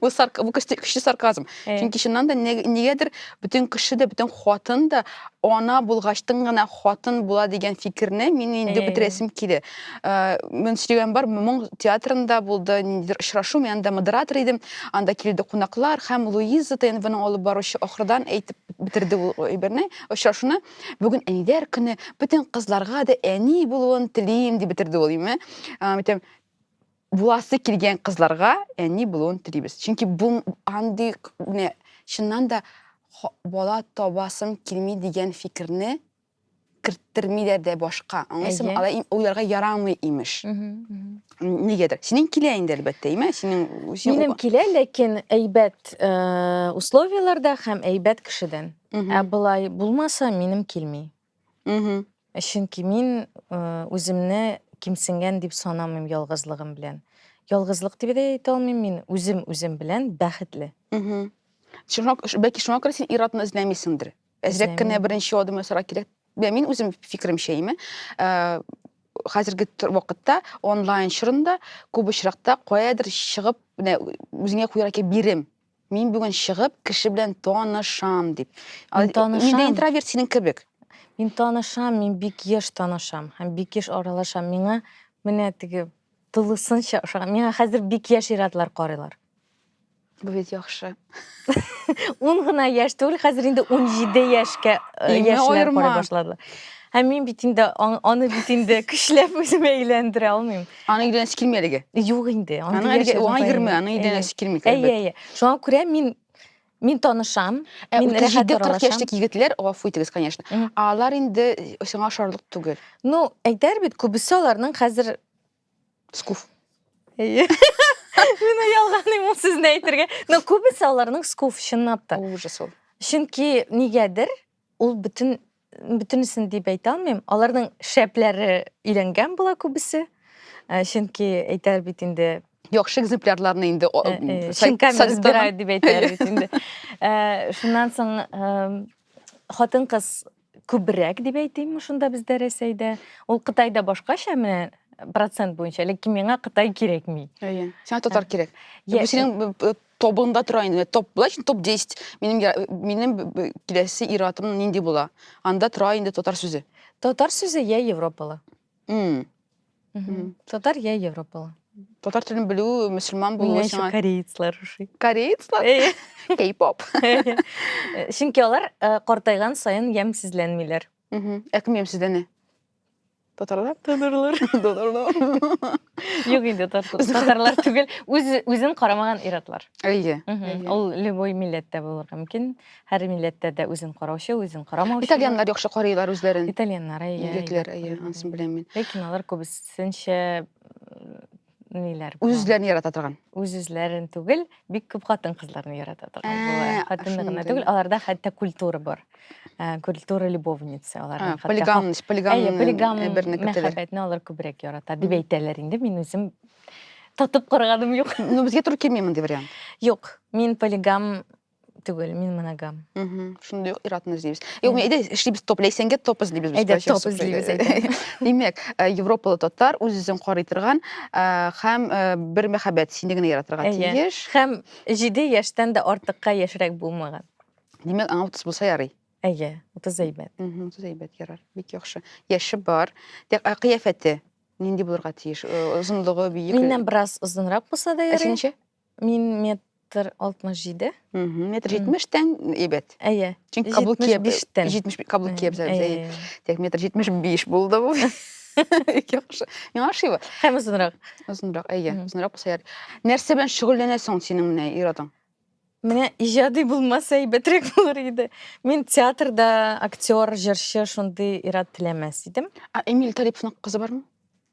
Бу сарк бу көчле, көчле сарказм. Э. Чөнки чыннан да не- нигәдер бөтен кеше дә, бөтен хатын да ана булгачтын гына хатын була дигән фикерне мин инде Э. бетерәсем килде. Э, Мин сөйләгән бар, моң театрында булды, ниндидер очрашу, мин анда модератор идем. Анда килде кунаклар һәм Луиза ТНВның алып баручы ахырдан әйтеп бетерде ул әйберне, очрашуны. Бүген әниләр көне, бөтен кызларга да әни булуын телим дип бетерде ул, име? Э, Әйтәм, буласы килгән кызларга әни булуын телибез. Чөнки бу андый менә чыннан да бала табасым килми дигән фикерне керттермиләр дә башка. Аңлыйсыңмы? Алай уйларга ярамый имеш. Нигәдер. Синең килә инде әлбәттә, име? Синең Минем килә, ләкин әйбәт э, условияләрдә һәм әйбәт кешедән. Ә былай булмаса, минем килми. Мгм. Чөнки мин э, үземне кимсенгән дип санамыйм ялгызлыгым белән. Ялгызлык дип дә әйтә алмыйм мин, үзем үзем белән бәхетле. Мгм. Шуңа, ш- бәлки шуңа күрә син ир-атны эзләмисеңдер. Әзрәк кенә Эзләмим. беренче адым ясарга кирәк. Менә мин үзем фикеремчә име. Ә, хәзерге тор- вакытта онлайн чорында күп очракта каядыр чыгып, менә үзеңә куярга кирәк бирем. Мин бүген чыгып, кеше белән танышам, дип. Мин Ал- танышам. Мин дә интроверт синең кебек. Мин танышам, мин бик еш танышам һәм бик еш аралашам. Миңа менә теге тулысынча ошаган. Миңа хәзер бик яшь иратлар карыйлар. Бу бит яхшы. Ун гына яшь түгел, хәзер инде 17 яшькә э, Иңне яшьләр аерма. карый башладылар. Һәм мин бит инде аң- аны бит инде көчләп үземә әйләндерә алмыйм. Аның өйдән эш килми әлеге. Юк инде. Аның әлеге уңа йөрми, аның өйдән эш килми. Әйе, әйе. Шуңа күрә мин мин танышам. Ә мин рәхәт аралашам. 40 яшьлек егетләр, гафу итегез, конечно. Алар инде сиңа ошарлык түгел. Ну, әйтәр бит, күбесе аларның хәзер скуф. Әйе. Мин ялганым ул сезне әйтергә. Но күбесе аларның скуф чынлап та. Ужас ул. Чөнки нигәдер ул бөтен бөтенесен дип әйтә алмыйм аларның шәпләре өйләнгән була күбесе э, чөнки әйтәр бит инде яхшы экземплярларны инде э, э, шинками разбирают дип әйтәләр бит инде шуннан соң хатын кыз күбрәк дип әйтим шунда бездә рәсәйдә ул кытайда башкача менә процент буенча ләкин миңа кытай кирәкми әйе сиңа татар кирәк бу синең тобында тора инде топ былай топ 10 минем минем киләсе иратым нинди була анда тора инде татар сүзе татар сүзе я европалы mm. Mm -hmm. татар я европалы татар телен белү мөселман булу сиңа корейцлар ошый корейцлар кей-поп чөнки алар картайган саен ямьсезләнмиләр Мгм. Ә кем ямьсез дәне? Татарлар? Татарлар. Татарлар. Юк инде татар- Үзен- татарлар түгел, үз үзен карамаган ир-атлар. Әйе. Мгм. Әйе. Ул любой милләттә булырга мөмкин. Һәр милләттә дә үзен караучы, үзен карамаучы. Итальяннар яхшы карыйлар үзләрен. Итальяннар, әйе. Егетләр, әйе, анысын беләм мин. Ләкин алар күбесенчә м, ниләр бар? Үз-үзләрен ярата торган. Үз-үзләрен түгел, бик күп хатын-кызларны ярата торган Ә, була. Хатынны гына шундый. түгел, аларда хәтта культура бар. Ә, Культура любовница А, аларның. хәтта Полигам, хат- полигам, Әйе, полигам э, берне көтәләр. мәхәббәтне алар күбрәк ярата дип Мгм. әйтәләр инде. Мин үзем татып караганым юк. Ну, безгә туры килми мондый вариант. Юк, мин полигам түгел, мин моногам. Мхм, шундый ук иратны эзлибез. Юк, мин әйдә эшлибез топ, ләйсәнгә топ эзлибез без. Әйдә, топ эзлибез, әйдә. Димәк, э, европалы татар үз-үзен карый торган э, һәм э, бер мәхәббәт сине генә яратырга Әйе. тиеш. Һәм җиде яшьтән дә артыкка яшьрәк булмаган. Димәк, аңа 30 булса ярый. Әйе, утыз әйбәт. Мгм, Утыз әйбәт ярар. Бик яхшы. Яше бар. Тә- ә Кыяфәте нинди булырга тиеш? Э, Озынлыгы, биекле. Миннән бераз озынрак булса да Ә син ярый. ничә? Мин метр 67. Мгм. Метр 70 тән әйбәт. Әйе. Чөнки каблук киеп 75 тән. 70 каблук киеп Әйе, әйе, әйе. Тек метр 75 булды бу. Ике кыш. Миңа ошый бу. Һәм озынрак. Озынрак, әйе, Мгм. озынрак булса ярый. Нәрсә белән шөгыльләнәсең синең менә ир-атың? Менә иҗади булмаса әйбәтрәк булыр иде. Мин театрда актер, җырчы шундый ир-ат теләмәс идем. А Эмиль Талиповның кызы бармы?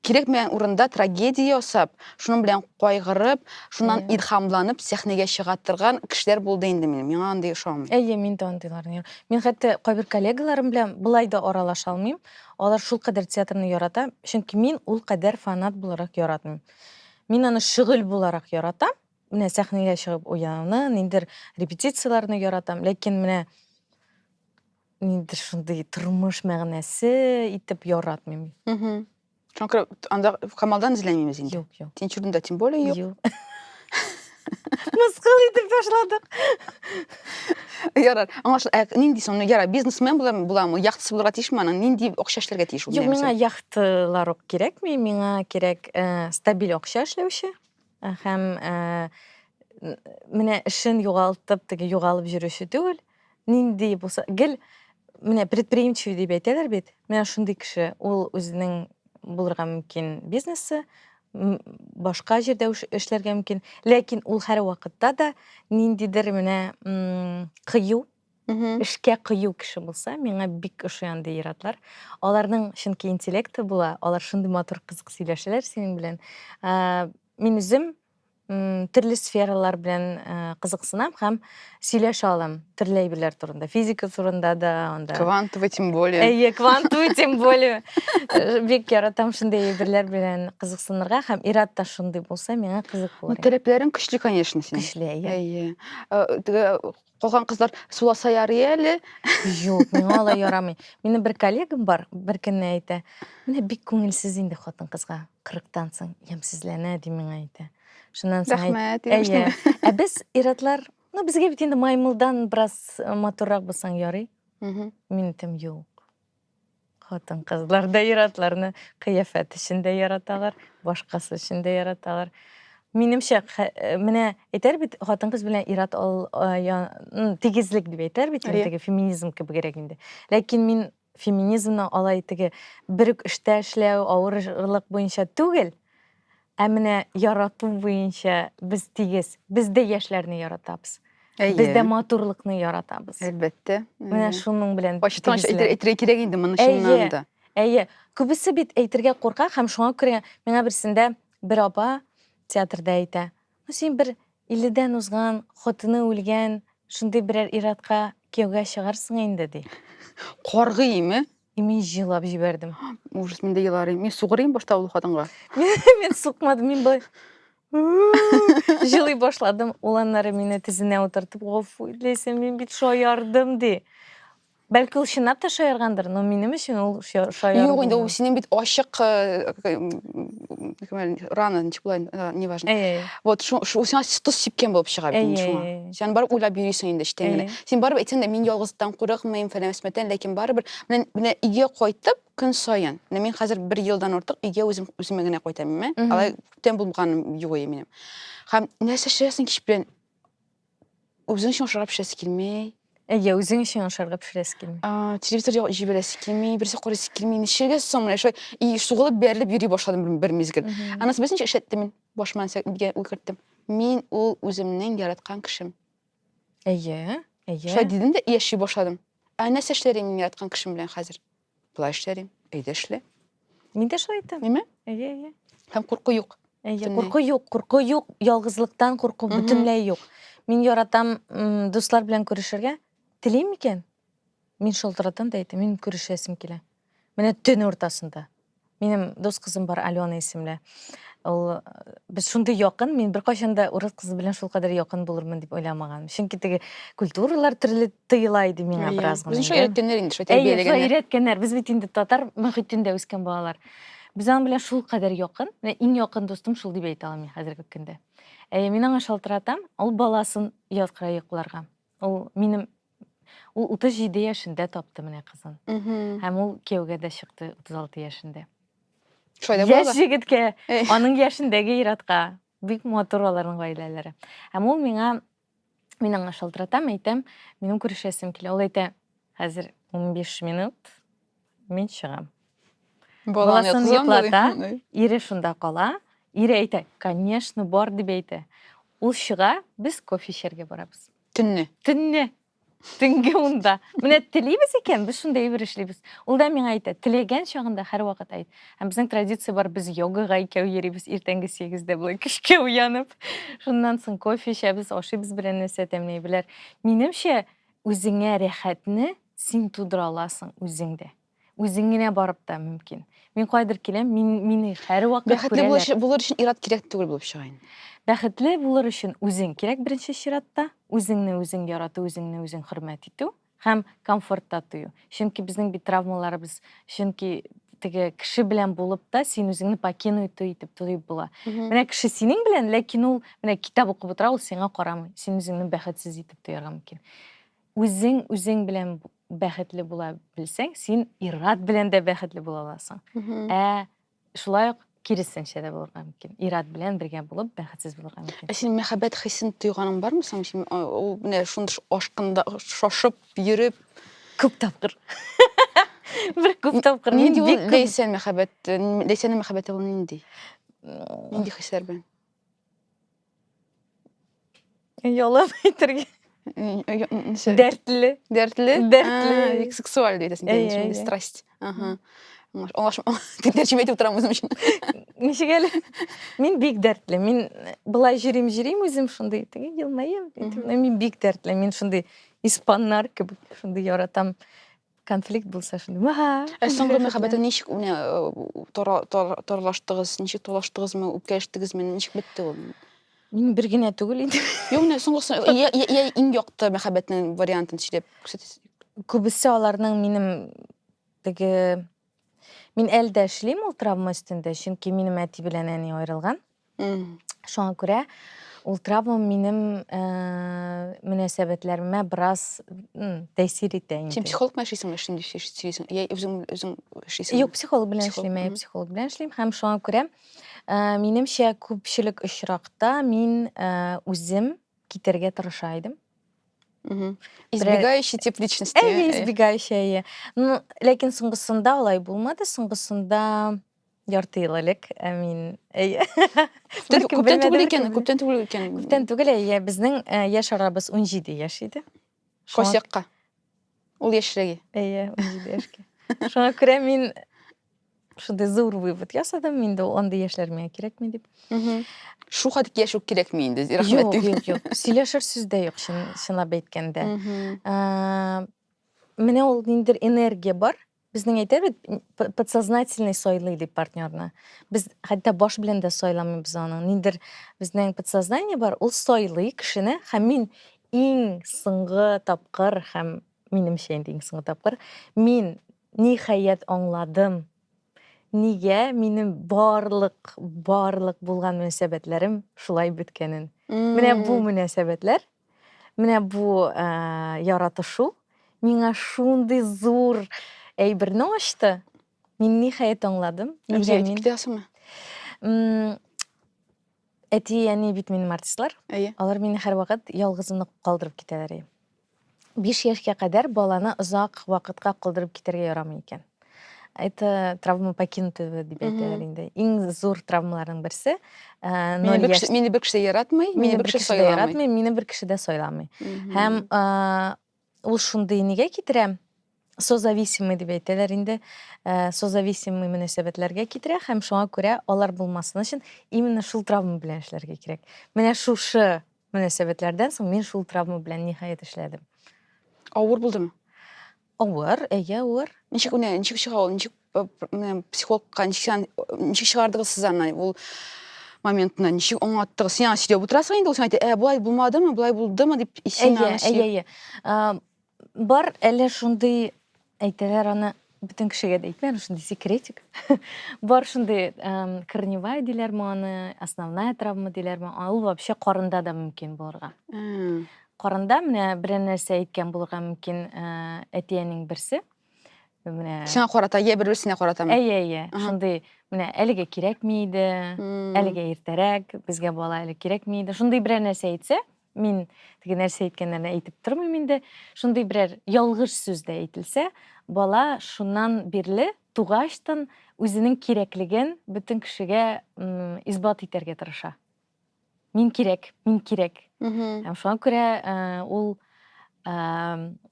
Кирәкмәгән урында трагедия ясап, шуның белән кайгырып, шуннан илһамланып сәхнәгә чыга торган кешеләр булды инде минем. Миңа андый ошамый. Әйе, мин дә андыйларны яра. Мин хәтта кайбер коллегаларым белән болай да аралаша алмыйм. Алар шулкадәр театрны ярата, чөнки мин ул кадәр фанат буларак яратмыйм. Мин аны шөгыль буларак яратам. Менә сәхнәгә чыгып уйнауны, ниндидер репетицияләрне яратам. Ләкин менә инде шундый тормыш мәгънәсе итеп яратмыйм. Угу. Шуңа күрә анда Камалдан эзләмибез инде. Юк, юк. Тинчуринда тем более юк. Юк. Мыскыл итеп ташладык. Ярар. Аңлашыл. Ә нинди соң? Ну, ярар, бизнесмен була буламы? Яхтасы булырга тиешме аның? Нинди акча эшләргә тиеш ул? Юк, миңа яхтылар ук кирәкми, миңа кирәк э, стабиль акча эшләүче. Э, һәм э, менә эшен югалтып теге югалып йөрүче түгел нинди булса гел менә предприимчивый дип әйтәләр бит менә шундый кеше ул үзенең булырга мөмкин бизнесы башка җирдә эшләргә мөмкин ләкин ул һәрвакытта да ниндидер менә кыю Эшкә кыю кеше булса, миңа бик ошый андый ир-атлар. Аларның чөнки интеллекты була, алар шундый матур кызык сөйләшәләр синең белән. Мин үзем төрле сфералар белән кызыксынам һәм сөйләшә алам төрле әйберләр турында. Физика турында да, анда. Квантовый тем более. Әйе, квантовый тем более. Бик яратам шундый әйберләр белән кызыксынырга һәм ир-ат та шундый булса, миңа кызык булыр. Таләпләрең көчле, конечно, синең. Көчле, әйе. Әйе. Калган кызлар суласа ярый әле. Юк, миңа алай ярамый. Минем бер коллегам бар, бер көнне әйтә, менә бик күңелсез инде хатын кызга, 40-тан соң ямьсезләнә ди миңа әйтә. Шуннан соң әйт- Рәхмәт, Әйе. иреште. Ә без иратлар, ну безгә бит инде маймылдан бераз э, матуррак булсаң ярый. Мин әйтәм, юк. Хатын кызлар да иратларны кыяфәт өчен дә яраталар, башкасы өчен дә яраталар. Минемчә, э, менә әйтәр бит, хатын кыз белән ират ал, э, тигезлек дип әйтәр бит, теге феминизм кебегрәк инде. Ләкин мин феминизмны алай теге бер үк эштә эшләү, авырлык буенча түгел, Ә менә ярату буенча без тигез. Без дә яшьләрне яратабыз. Әйе. Без дә матурлыкны яратабыз. Әлбәттә. Менә шуның белән Ачыктан әйтергә кирәк инде моны чыннан да. Әйе. Күбесе бит әйтергә курка һәм шуңа күрә миңа берсендә бер апа театрда әйтә. Ну син бер 50-дән узган, хатыны үлгән, шундый берәр иратка кияүгә чыгарсың инде ди. Каргыйме? И мин җылап җибәрдем. Ужас, мин дә еларым. Мин сугырыйм башта ул хатынга. Мин сукмадым, мин былай жылый башладым. Ул аннары мине тезенә утыртып, гафу итәсе, мин бит шаярдым ди. Бәлки ул чынлап та шаяргандыр, но минем өчен ул шаяру. Юк, инде ул синең бит ачык э, э, рана, ничек була, э, неважно. Вот, шу сиңа тоз сипкән булып чыга бит шуңа. Сен барып уйлап йөрисең инде эчтән генә. Син барып әйтсәң дә мин ялгыздан курыкмыйм, фәләмәсмәтән, ләкин барыбер менә менә өйгә кайтып көн саен. Менә мин хәзер бер елдан артык өйгә үзем үземә генә кайтам, имә. Алай күптән булганым юк иде минем. Һәм нәрсә эшләсең кич белән? Үзең өчен ашарга пешерәсе килми. Әйе, үзең өчен ашарга пешерәсе килми. А, телевизор җибәрәсе килми, берсе карыйсы килми. Ничегә соң менә шулай и сугылып бәрелеп йөри башладым бер мизгел. Анасы белсенчә эшләттем мин. Башыма нәрсә дигән уй керттем. Мин ул үземнең яраткан кешем. Әйе, әйе. Шулай дидем дә яши башладым. Ә нәрсә эшләр идем мин яраткан кешем белән хәзер? Болай эшләр идем. Әйдә эшлә. Мин дә шулай иттем. Әйме? Әйе, әйе. Һәм курку юк. Әйе, курку юк, курку юк, ялгызлыктан курку бөтенләй юк. Мин яратам дуслар белән күрешергә. Телим микән? Мин шалтыратам да әйтәм, мин күрешәсем килә. Менә төн уртасында. Минем дус кызым бар, Алена исемле. Ул э, без шундый якын, мин беркайчан да урыс кызы белән шул кадәр якын булырмын дип уйламаган. Чөнки теге культуралар төрле тыела иде миңа Әйе. бераз гына. Үзенчә инде. өйрәткәннәр инде шулай Әйе, шулай тәрбияләгәннәр. өйрәткәннәр. Без бит инде татар мөхитендә үскән балалар. Без аның белән шул кадәр якын. Менә иң якын дустым шул дип әйтә алам мин хәзерге көндә. Әйе, мин аңа шалтыратам, ул баласын яткыра йокларга. Ул минем ул 37 яшендә тапты менә кызын. Һәм ул кияүгә дә чыкты 36 яшендә. Шулай да Яшь җегеткә, аның яшендәге иратка бик матур аларның гаиләләре. Һәм ул миңа мин аңа шалтыратам, әйтәм, минем күрешәсем килә. Ул әйтә, хәзер 15 минут Мин чыгам. Баласын йоклата, ире шунда кала. Ире әйтә, конечно, бар дип әйтә. Ул чыга, без кофе эчәргә барабыз. Төнне. Төнне. Төнге унда. Менә телибез икән, без шунда әйбер эшлибез. Ул да миңа әйтә, теләгән чагында һәрвакыт әйт. Һәм безнең традиция бар, без йогага икәү йөрибез иртәнге 8-дә болай көчкә уянып. Шуннан соң кофе эчәбез, ашыйбыз белән нәрсә тәмләй беләр. Минемчә, үзеңә рәхәтне Син тудыра аласың үзең дә. Үзең генә барып та мөмкин. Мин кайдыр киләм, мин, мине һәрвакыт күрәләр. Бәхетле булыш, булыр өчен ират кирәк түгел булып чыга инде. Бәхетле булыр өчен үзең кирәк беренче чиратта. Үзеңне үзең ярату, үзеңне үзең хөрмәт итү һәм комфортта тою. Чөнки безнең бит травмаларыбыз, чөнки теге кеше белән булып та син үзеңне покину итү итеп тоеп була. Менә кеше синең белән, ләкин ул менә китап укып утыра, ул сиңа карамый. Син үзеңне бәхетсез итеп тоярга мөмкин. Үзең үзең белән бәхетле була белсәң, син ир-ат белән дә бәхетле була аласың. Ә шулай ук киресенчә дә булырга мөмкин. Ир-ат белән бергә булып бәхетсез булырга мөмкин. Ә син мәхәббәт хисен тойганың бармы соң? Син ул менә шундый ашкында шашып йөреп күп тапкыр. Бер күп тапкыр. Нинди ул Ләйсән мәхәббәт? Ләйсәнең мәхәббәте ул нинди? Нинди хисләр белән? Ялап әйтергә. Дәртле. Дәртле? Дәртле. Сексуаль дейді сен. Әйе, страсть. Ага. Олаш, тәрҗемә итеп торам үзем өчен. Ничек әле? Мин бик дәртле. Мин э, былай җөрим, җөрим үзем шундый. Теге елмаем. Мин бик дәртле. Мин шундый испаннар кебек шундый яратам. конфликт булса шундый мага ә соңгы мәхәббәтең ничек менә тарлаштыгыз ничек тулаштыгызмы үпкәләштегезме ничек бетте ул мин бер генә түгел инде юк менә соңгысы я иң якты мәхәббәтнең вариантын сөйләп күрсәтегез күбесе аларның минем теге мин әле дә эшлим ул травма өстендә чөнки минем әти белән әни аерылган Шуңа күрә ул травма минем э, мөнәсәбәтләремә бераз м, тәэсир итә инде. Син психолог белән эшлисеңме шундый сөй- сөйлисең? Я үзең үзең эшлисеңме? Юк, психолог белән Психолог, эшлим, әйе, мгм. психолог белән эшлим һәм шуңа күрә э, минемчә күпчелек очракта мин э, үзем китәргә тырыша идем. Мгм. Избегающий тип личности. Әйе, ә? избегающая, әйе. Ну, ләкин соңгысында алай булмады. Соңгысында ярты ел элек ә мин әйе күптән түгел икән күптән түгел икән күптән түгел әйе безнең э, яшь арабыз унҗиде яшь иде косякка ул яшьрәге әйе унҗиде яшькә шуңа күрә мин шундый зур вывод ясадым инде ул андый яшьләр миңа кирәкми дип шул хәтле яшь үк кирәкми инде рәхмәт юк юк юк сөйләшер сүз дә юк чынлап әйткәндә э, менә ул ниндидер энергия бар Безнең әйтә бит, подсознательный сайлый дип партнерны. Без хәтта баш белән дә сайламыйбыз аның. Ниндер безнең подсознание бар, ул сайлый кешене, һәм мин иң соңгы тапкыр һәм минемчә инде иң соңгы тапкыр мин ниһаять аңладым. Нигә минем барлык, барлык булган мөнәсәбәтләрем шулай беткәнен. Менә бу мөнәсәбәтләр Менә бу э, яратышу миңа шундый зур әйберне ачты. Мин ниһаять аңладым. Үзе әйтеп китәсеңме? Әти, әни бит минем артистлар. Әйе. Алар мине һәрвакыт ялгызымны калдырып китәләр. 5 яшькә кадәр баланы озак вакытка калдырып китәргә ярамый икән. это травма покинутого дип әйтәләр инде иң зур травмаларның берсе э, мине бер кеше яратмый мине бер кеше дә яратмый мине бер кеше дә сайламый һәм э, ул шундый нигә китерә созависимый дип әйтәләр инде э, созависимый мөнәсәбәтләргә китерә һәм шуңа күрә алар булмасын өчен именно шул травма белән эшләргә кирәк менә шушы мөнәсәбәтләрдән соң мин шул травма белән ниһаять эшләдем авыр булдымы Авыр, әйе, авыр. Ничек менә ничек чыга ул? Ничек э, пр- менә психологка ничек сен- ничек чыгардыгыз сез аны ул моментны? Ничек аңлаттыгыз? Син аңа сөйләп утырасың инде, ул сиңа әйтә, «Ә, болай булмадымы, болай булдымы?» дип, и син Әйе, аны әйе, сөйләп- әйе. А, Бар әле шундый әйтәләр аны бөтен кешегә дә әйтмә, аны шундый секретик. Бар шундый эм, корневая диләрме аны, основная травма диләрме, а ул вообще карында да мөмкин булырга. Ә, Карында менә берәр нәрсә әйткән булырга мөмкин әти-әнинең берсе. Менә Сиңа карата, я бер-берсенә каратамы? Әйе, әйе. Шундый менә әлегә кирәкми иде, әлегә иртәрәк, безгә бала әле кирәкми иде. Шундый берәр нәрсә әйтсә, мин теге нәрсә әйткәннәрне әйтеп тормыйм инде. Шундый берәр ялгыш сүз дә әйтелсә, бала шуннан бирле тугачтан үзенең кирәклеген бөтен кешегә исбат итәргә тырыша. мин кирәк мин кирәк һәм шуңа күрә э, ул э,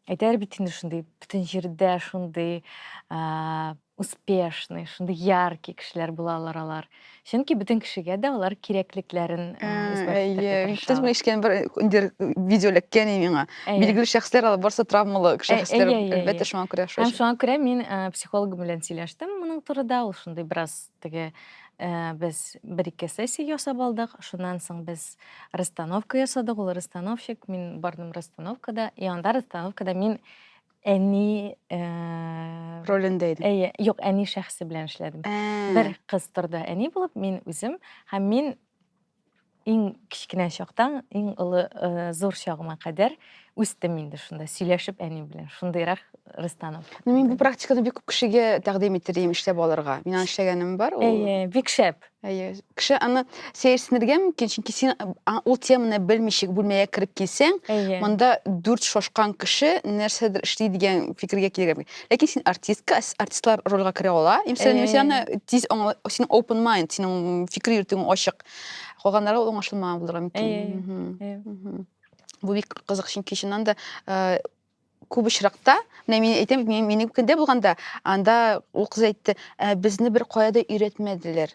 әйтәләр бит инде шундый бөтен җирдә шундый э, успешный шундый яркий кешеләр булалар алар чөнки бөтен кешегә дә алар кирәклекләрен исбат ишеткән бер индер видео эләккән миңа билгеле шәхесләр алар барысы травмалы шәхесләр әлбәттә шуңа күрә һәм шуңа күрә мин психологым белән сөйләштем моның турыда ул шундый бераз Теге без бер-ике сессия ясап алдык. Шуннан соң без расстановка ясадык. Ул расстановщик, мин бардым расстановкада. И анда расстановкада мин әни ролендә идем. Әйе, юк, әни шәхесе белән эшләдем. Бер кыз торды әни булып, мин үзем һәм мин Иң кечкенә чактан иң олы зур чагыма кадәр үстем инде шунда сөйләшеп әни белән шундыйрак рыстанов ну мин бу практиканы бик күп кешегә тәкъдим итәрем эшләп алырга мин аны эшләгәнем бар ул әйе бик шәп әйе кеше аны сәерсенергә мөмкин чөнки син ул теманы белмичек бүлмәгә кереп килсәң монда дүрт шашкан кеше нәрсәдер эшли дигән фикергә килергә мөмкин Ләкин син артистка, артистлар рольга керә ала. Имсән э. Люсиана тиз аңла, син open mind, синең фикер йөртүең ачык. Калганнары ул аңлашылмаган булырга мөмкин. Э, э, Бу бик кызык, чөнки чыннан да күп очракта, менә мин әйтәм, минем көндә булганда, анда ул кыз әйтте, безне бер кая да өйрәтмәделәр.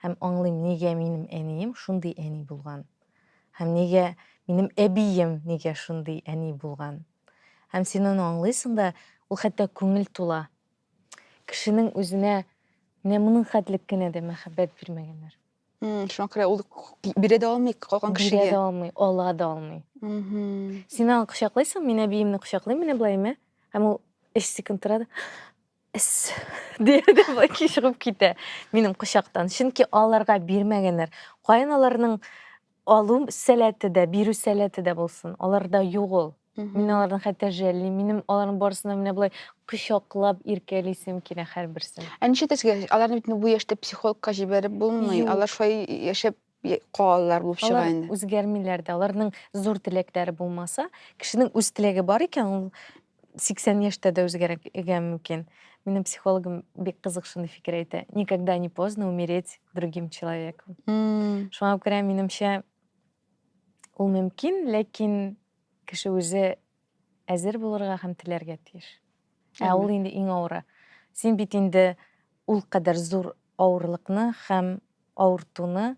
Һәм аңлыйм, нигә минем әнием шундый әни булган. Һәм нигә минем әбием нигә шундый әни булган. Һәм син аны аңлыйсың да, ул хәтта күңел тула. Кешенең үзенә менә моның хәтлек кенә дә мәхәббәт бирмәгәннәр. Шуңа күрә ул бирә дә алмый калган кешегә. Бирә дә алмый, ала да алмый. Син аны кочаклыйсың, мин әбиемне кочаклыйм, менә былай, мә. Һәм ул өч секунд тора да. Эс! дия дә Баки чыгып китә минем кочактан. Чөнки аларга бирмәгәннәр. Каян аларның алу сәләте дә, бирү сәләте дә булсын? Аларда юк ул. Мин аларны хәтта жәллим. Минем аларның барысын да менә болай кочаклап иркәлисем килә һәрберсен. Ә нишләтәсегә? Аларны бит бу яшьтә психологка җибәреп булмый. Юк. Алар шулай яшәп калалар булып чыга инде. Алар үзгәрмиләр дә, аларның зур теләкләре булмаса, кешенең үз теләге бар икән, ул 80 яшьтә дә үзгәрергә мөмкин. Минем психологым бик кызык шундый фикер әйтә. Никогда не поздно умереть другим человеком. Mm. Шуңа күрә минемчә ул мөмкин, ләкин кеше үзе әзер булырга һәм теләргә тиеш. Ә ул инде иң авыры. Син бит инде ул кадәр зур авырлыкны һәм авыртуны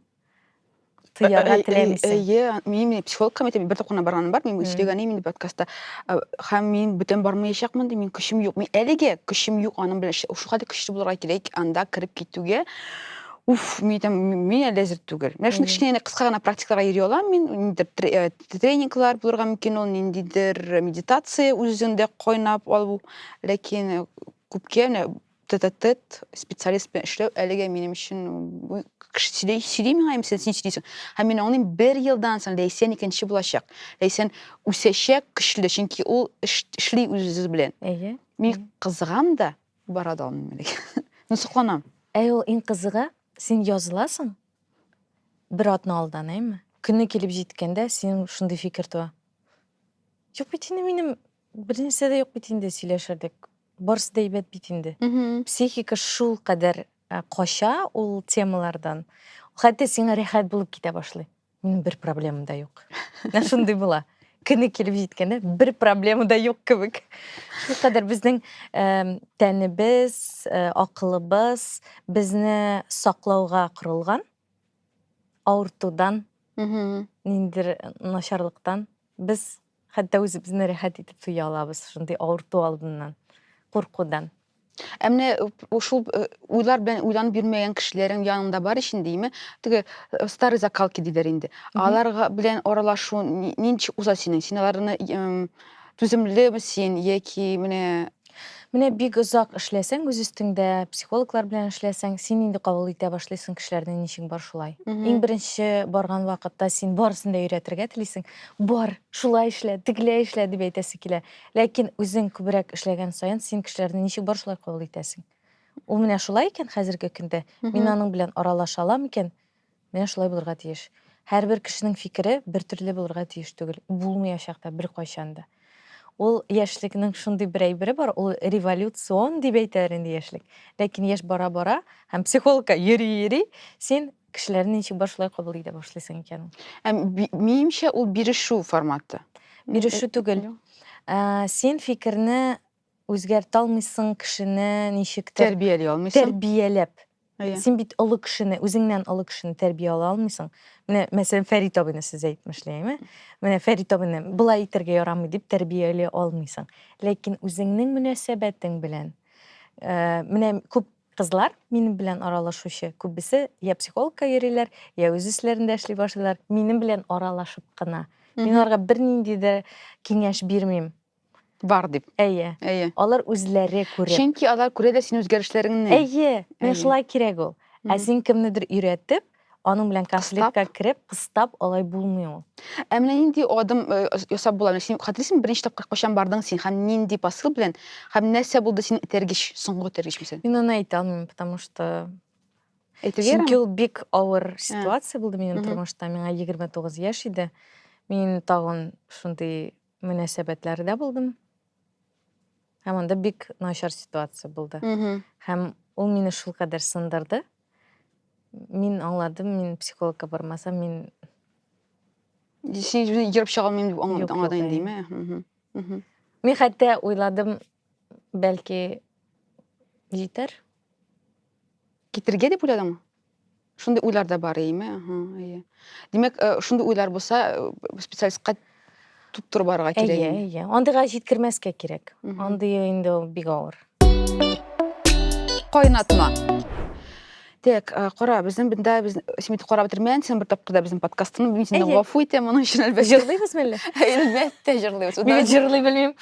тоярга э, э, теләмисең. Әйе, э, мин психологка мәктәбе бер тапкырына барганым бар, мин сөйләгәнем инде подкастта. Һәм мин бүтән бармаячакмын, мин көчем юк. Мин әлегә көчем юк аның белән. Шул хәтле көчле булырга кирәк анда кереп китүгә. Уф, мин әйтәм, мин әле әзер түгел. Менә шундый кечкенә кыска гына практикаларга йөри алам мин, тренингылар булырга мөмкин ул ниндидер медитация үзеңдә кайнап алу ләкин э, күпкә менә тет специалист белән эшләү әлегә минем өчен кеше сөйли сөйли миңа һәм сен син сөйлисең һәм мин аңлыйм бер елдан соң ләйсән икенче булачак ләйсән үсәчәк көчле чөнки ул эш, эшли үзе белән әйе мин кызыгам да бара да алмыйм әлегә ну сокланам әй ул иң кызыгы син языласың Бер атна алдан, әйме? Көне килеп җиткәндә, синең шундый фикер туа. Юк бит инде минем бернәрсә дә юк бит инде сөйләшерлек. Барысы да әйбәт бит инде. Психика шул кадәр кача ул темалардан. Хәтта сиңа рәхәт булып китә башлый. Минем бер проблемам да юк. Менә шундый була. көне килеп җиткәндә бер проблема да юк кебек шулкадәр безнең тәнебез акылыбыз безне саклауга корылган авыртудан ниндидер начарлыктан без хәтта үзебезне рәхәт итеп тоя алабыз шундый авырту алдыннан куркудан Ә менә э, шул э, уйлар белән уйланып йөрмәгән кешеләрең янында бар өчен дейме, теге э, старый закалки диләр инде. Аларга белән аралашу ни- нинди уза синең? Син аларны эм, түземлеме син яки менә Менә бик озак эшләсәң үз өстеңдә, психологлар белән эшләсәң, син инде кабул итә башлыйсың кешеләрнең ничек бар шулай. Мгм. Иң беренче барган вакытта син барысын да өйрәтергә телисең. Бар, шулай эшлә, тегеләй эшлә дип әйтәсе килә. Ләкин үзең күбрәк эшләгән саен син кешеләрне ничек бар шулай кабул итәсең. Ул менә шулай икән хәзерге көндә, мин аның белән аралаша алам икән, менә шулай булырга тиеш. Һәрбер кешенең фикере бертөрле булырга тиеш түгел, булмыячак та беркайчан да. Ул яшьлекнең шундый бер әйбере бар, ул революцион дип әйтәләр инде яшьлек. Ләкин яшь бара-бара һәм психологка йөри-йөри, син Кешеләрне ничек бар шулай кабул итә башлыйсың икән. Ә минемчә ул бирешү форматы. Бирешү түгел. Ә, син фикерне үзгәртә алмыйсың, кешене ничектер тәрбияли алмыйсың. Тәрбияләп. Әйе. Син бит олы кешене, үзеңнән олы кешене тәрбияли алмыйсың. Менә, мәсәлән, Фәрит абыйны сез әйтмешли, әйме? Менә Фәрит абыйны былай итәргә ярамый дип тәрбияли алмыйсың. Ләкин үзеңнең мөнәсәбәтең белән, ә, менә күп Кызлар, минем белән аралашучы, күбесе йә психологка йөриләр, йә үз эшләрендә эшли башлыйлар, минем белән аралашып кына. Мин аларга бернинди дә киңәш бирмим. Бар дип. Әйе. Әйе. Алар үзләре күреп. Чөнки алар күрә дә синең үзгәрешләреңне. Әйе, менә шулай кирәк ул. Ә син кемнедер өйрәтеп, Аның белән конфликтка кереп, кыстап алай булмый ул. Ә менә нинди адым э, ясап була? Менә син хәтерлисеңме, беренче тапкыр кайчан бардың син һәм нинди посыл белән һәм нәрсә булды синең этәргеч, соңгы этәргеч мисәл? Мин аны әйтә алмыйм, потому что Әйтергә Чөнки ул бик авыр ситуация булды минем тормышта. Миңа 29 яшь иде. Мин тагын шундый мөнәсәбәтләрдә булдым. Һәм анда бик начар ситуация булды. Һәм ул мине шул кадәр сындырды. Мин аңладым, мин психологка бармасам, мин Син үзеңне ерып чыга алмыйм дип аңладың, аңладың инде, димме? Мин хәтта уйладым, бәлки җитәр. Китерергә дип уйладыңмы? Шундый уйлар да бар иеме? Аһа, әйе. Димәк, э, шундый уйлар булса, э, специалистка тоттырып барырга кирәк. Әйе, инде. әйе. Андыйга җиткермәскә кирәк. Мгм. Андый инде ул бик авыр. Кайнатма. Так, э, кара, безнең бинда без син бит карап бетермәгән, син бер тапкыр да безнең подкастны. Мин синнән Әйе. гафу итәм моның өчен әлбәттә. Җырлыйбыз мәллә? Әлбәттә җырлыйбыз. Мин бит җырлый белмим.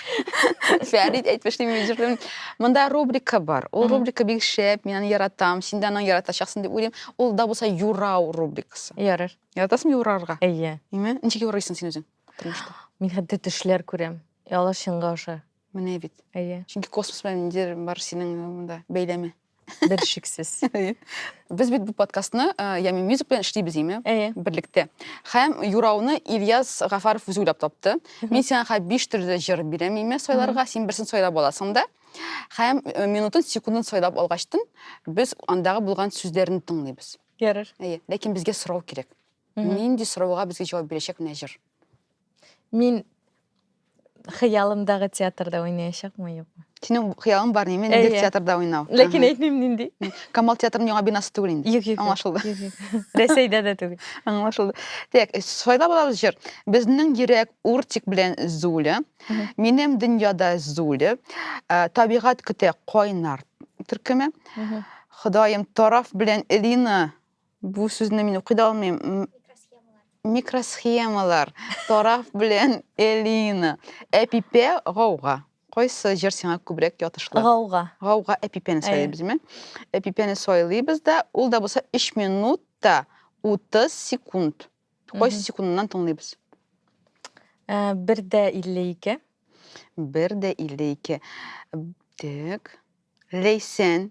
Фәрит әйтмешли мин җырлыйм. Монда рубрика бар. Ул рубрика бик шәп, мин аны яратам. Син дә аны яратачаксың дип уйлыйм. Ул да булса юрау рубрикасы. Ярар. Яратасың юрарга? Әйе. Әйме? Ничек юрыйсың син үзең тормышта? Мин хәтта төшләр күрәм. И алар чынга аша. Менә бит. Әйе. Чөнки космос белән ниндидер бар синең монда бәйләме. Бер шиксез. Без бит бу подкастны э, Ями Мюзик белән эшлибез, әйме? Әйе. Берлектә. Һәм юрауны Ильяс Гафаров үзе уйлап тапты. Мин сиңа хәзер биш төрле җыр бирәм имя сайларга, син берсен сайлап аласың да. Һәм э, минутын, секундын сайлап алгачтын, без андагы булган сүзләрне тыңлыйбыз. Ярар. Әйе, ләкин безгә сорау кирәк. Нинди сорауга безгә җавап бирәчәк менә җыр? Мин хыялымдагы театрда уйнаячакмы, юкмы? Синең хыялың бар неме? Ниндидер театрда уйнау. Ләкин әйтмим нинди. Камал театрының яңа бинасы түгел инде. Юк, юк. Аңлашылды. Рәсәйдә дә түгел. Аңлашылды. Так, э, сайлап алабыз җыр. Безнең йөрәк Уртик белән Зуля. Минем дөньяда Зуля. Э, табигать көтә кайнар төркеме. Ходаем тараф белән Элина Бу сүзне мин укый да алмыйм. М- Микросхемалар. Тараф белән Элина. Әпипә гауга. Кайсы җыр сиңа күбрәк ятышлы? Гауга. Гауга әпипәне Әйе. сайлыйбызмы? Әпипәне сайлыйбыз да, ул да булса 3 минут та 30 секунд. Кайсы Мгм. секундыннан тыңлыйбыз? Ә, Бер дә 52. Бер дә 52. Так. Ләйсән.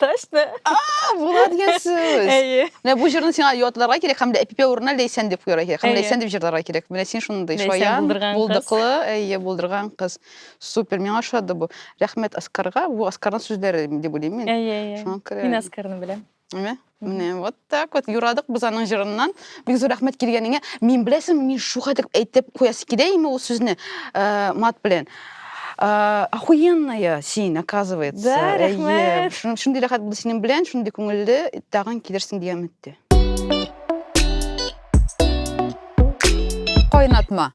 Точно. А, була дигән сүз. Әйе. Менә бу җырны сиңа ятларга кирәк һәм дә әпипе урынына ләйсән дип куярга кирәк. Һәм ләйсән дип җырларга кирәк. Менә син шундый Ләйсән шаян, булдырган кыз. булдыклы, әйе, булдырган кыз. Супер, миңа ошады бу. Рәхмәт Оскарга. Бу Оскарның сүзләре дип уйлыйм мин. Әйе, әйе. Шуңа күрә. Мин Оскарны беләм. Әйме? Менә вот так вот юрадык без аның җырыннан. Бик зур рәхмәт килгәнеңә. Мин беләсең, мин шуга дип әйтеп куясы килә име ул сүзне э, мат белән. Э, Охуенная син, оказывается. Да, Әйе. рәхмәт. Шун- Шундый рәхәт булды синең белән, шундый күңелле, тагын килерсең дигән өметтә. Кайнатма.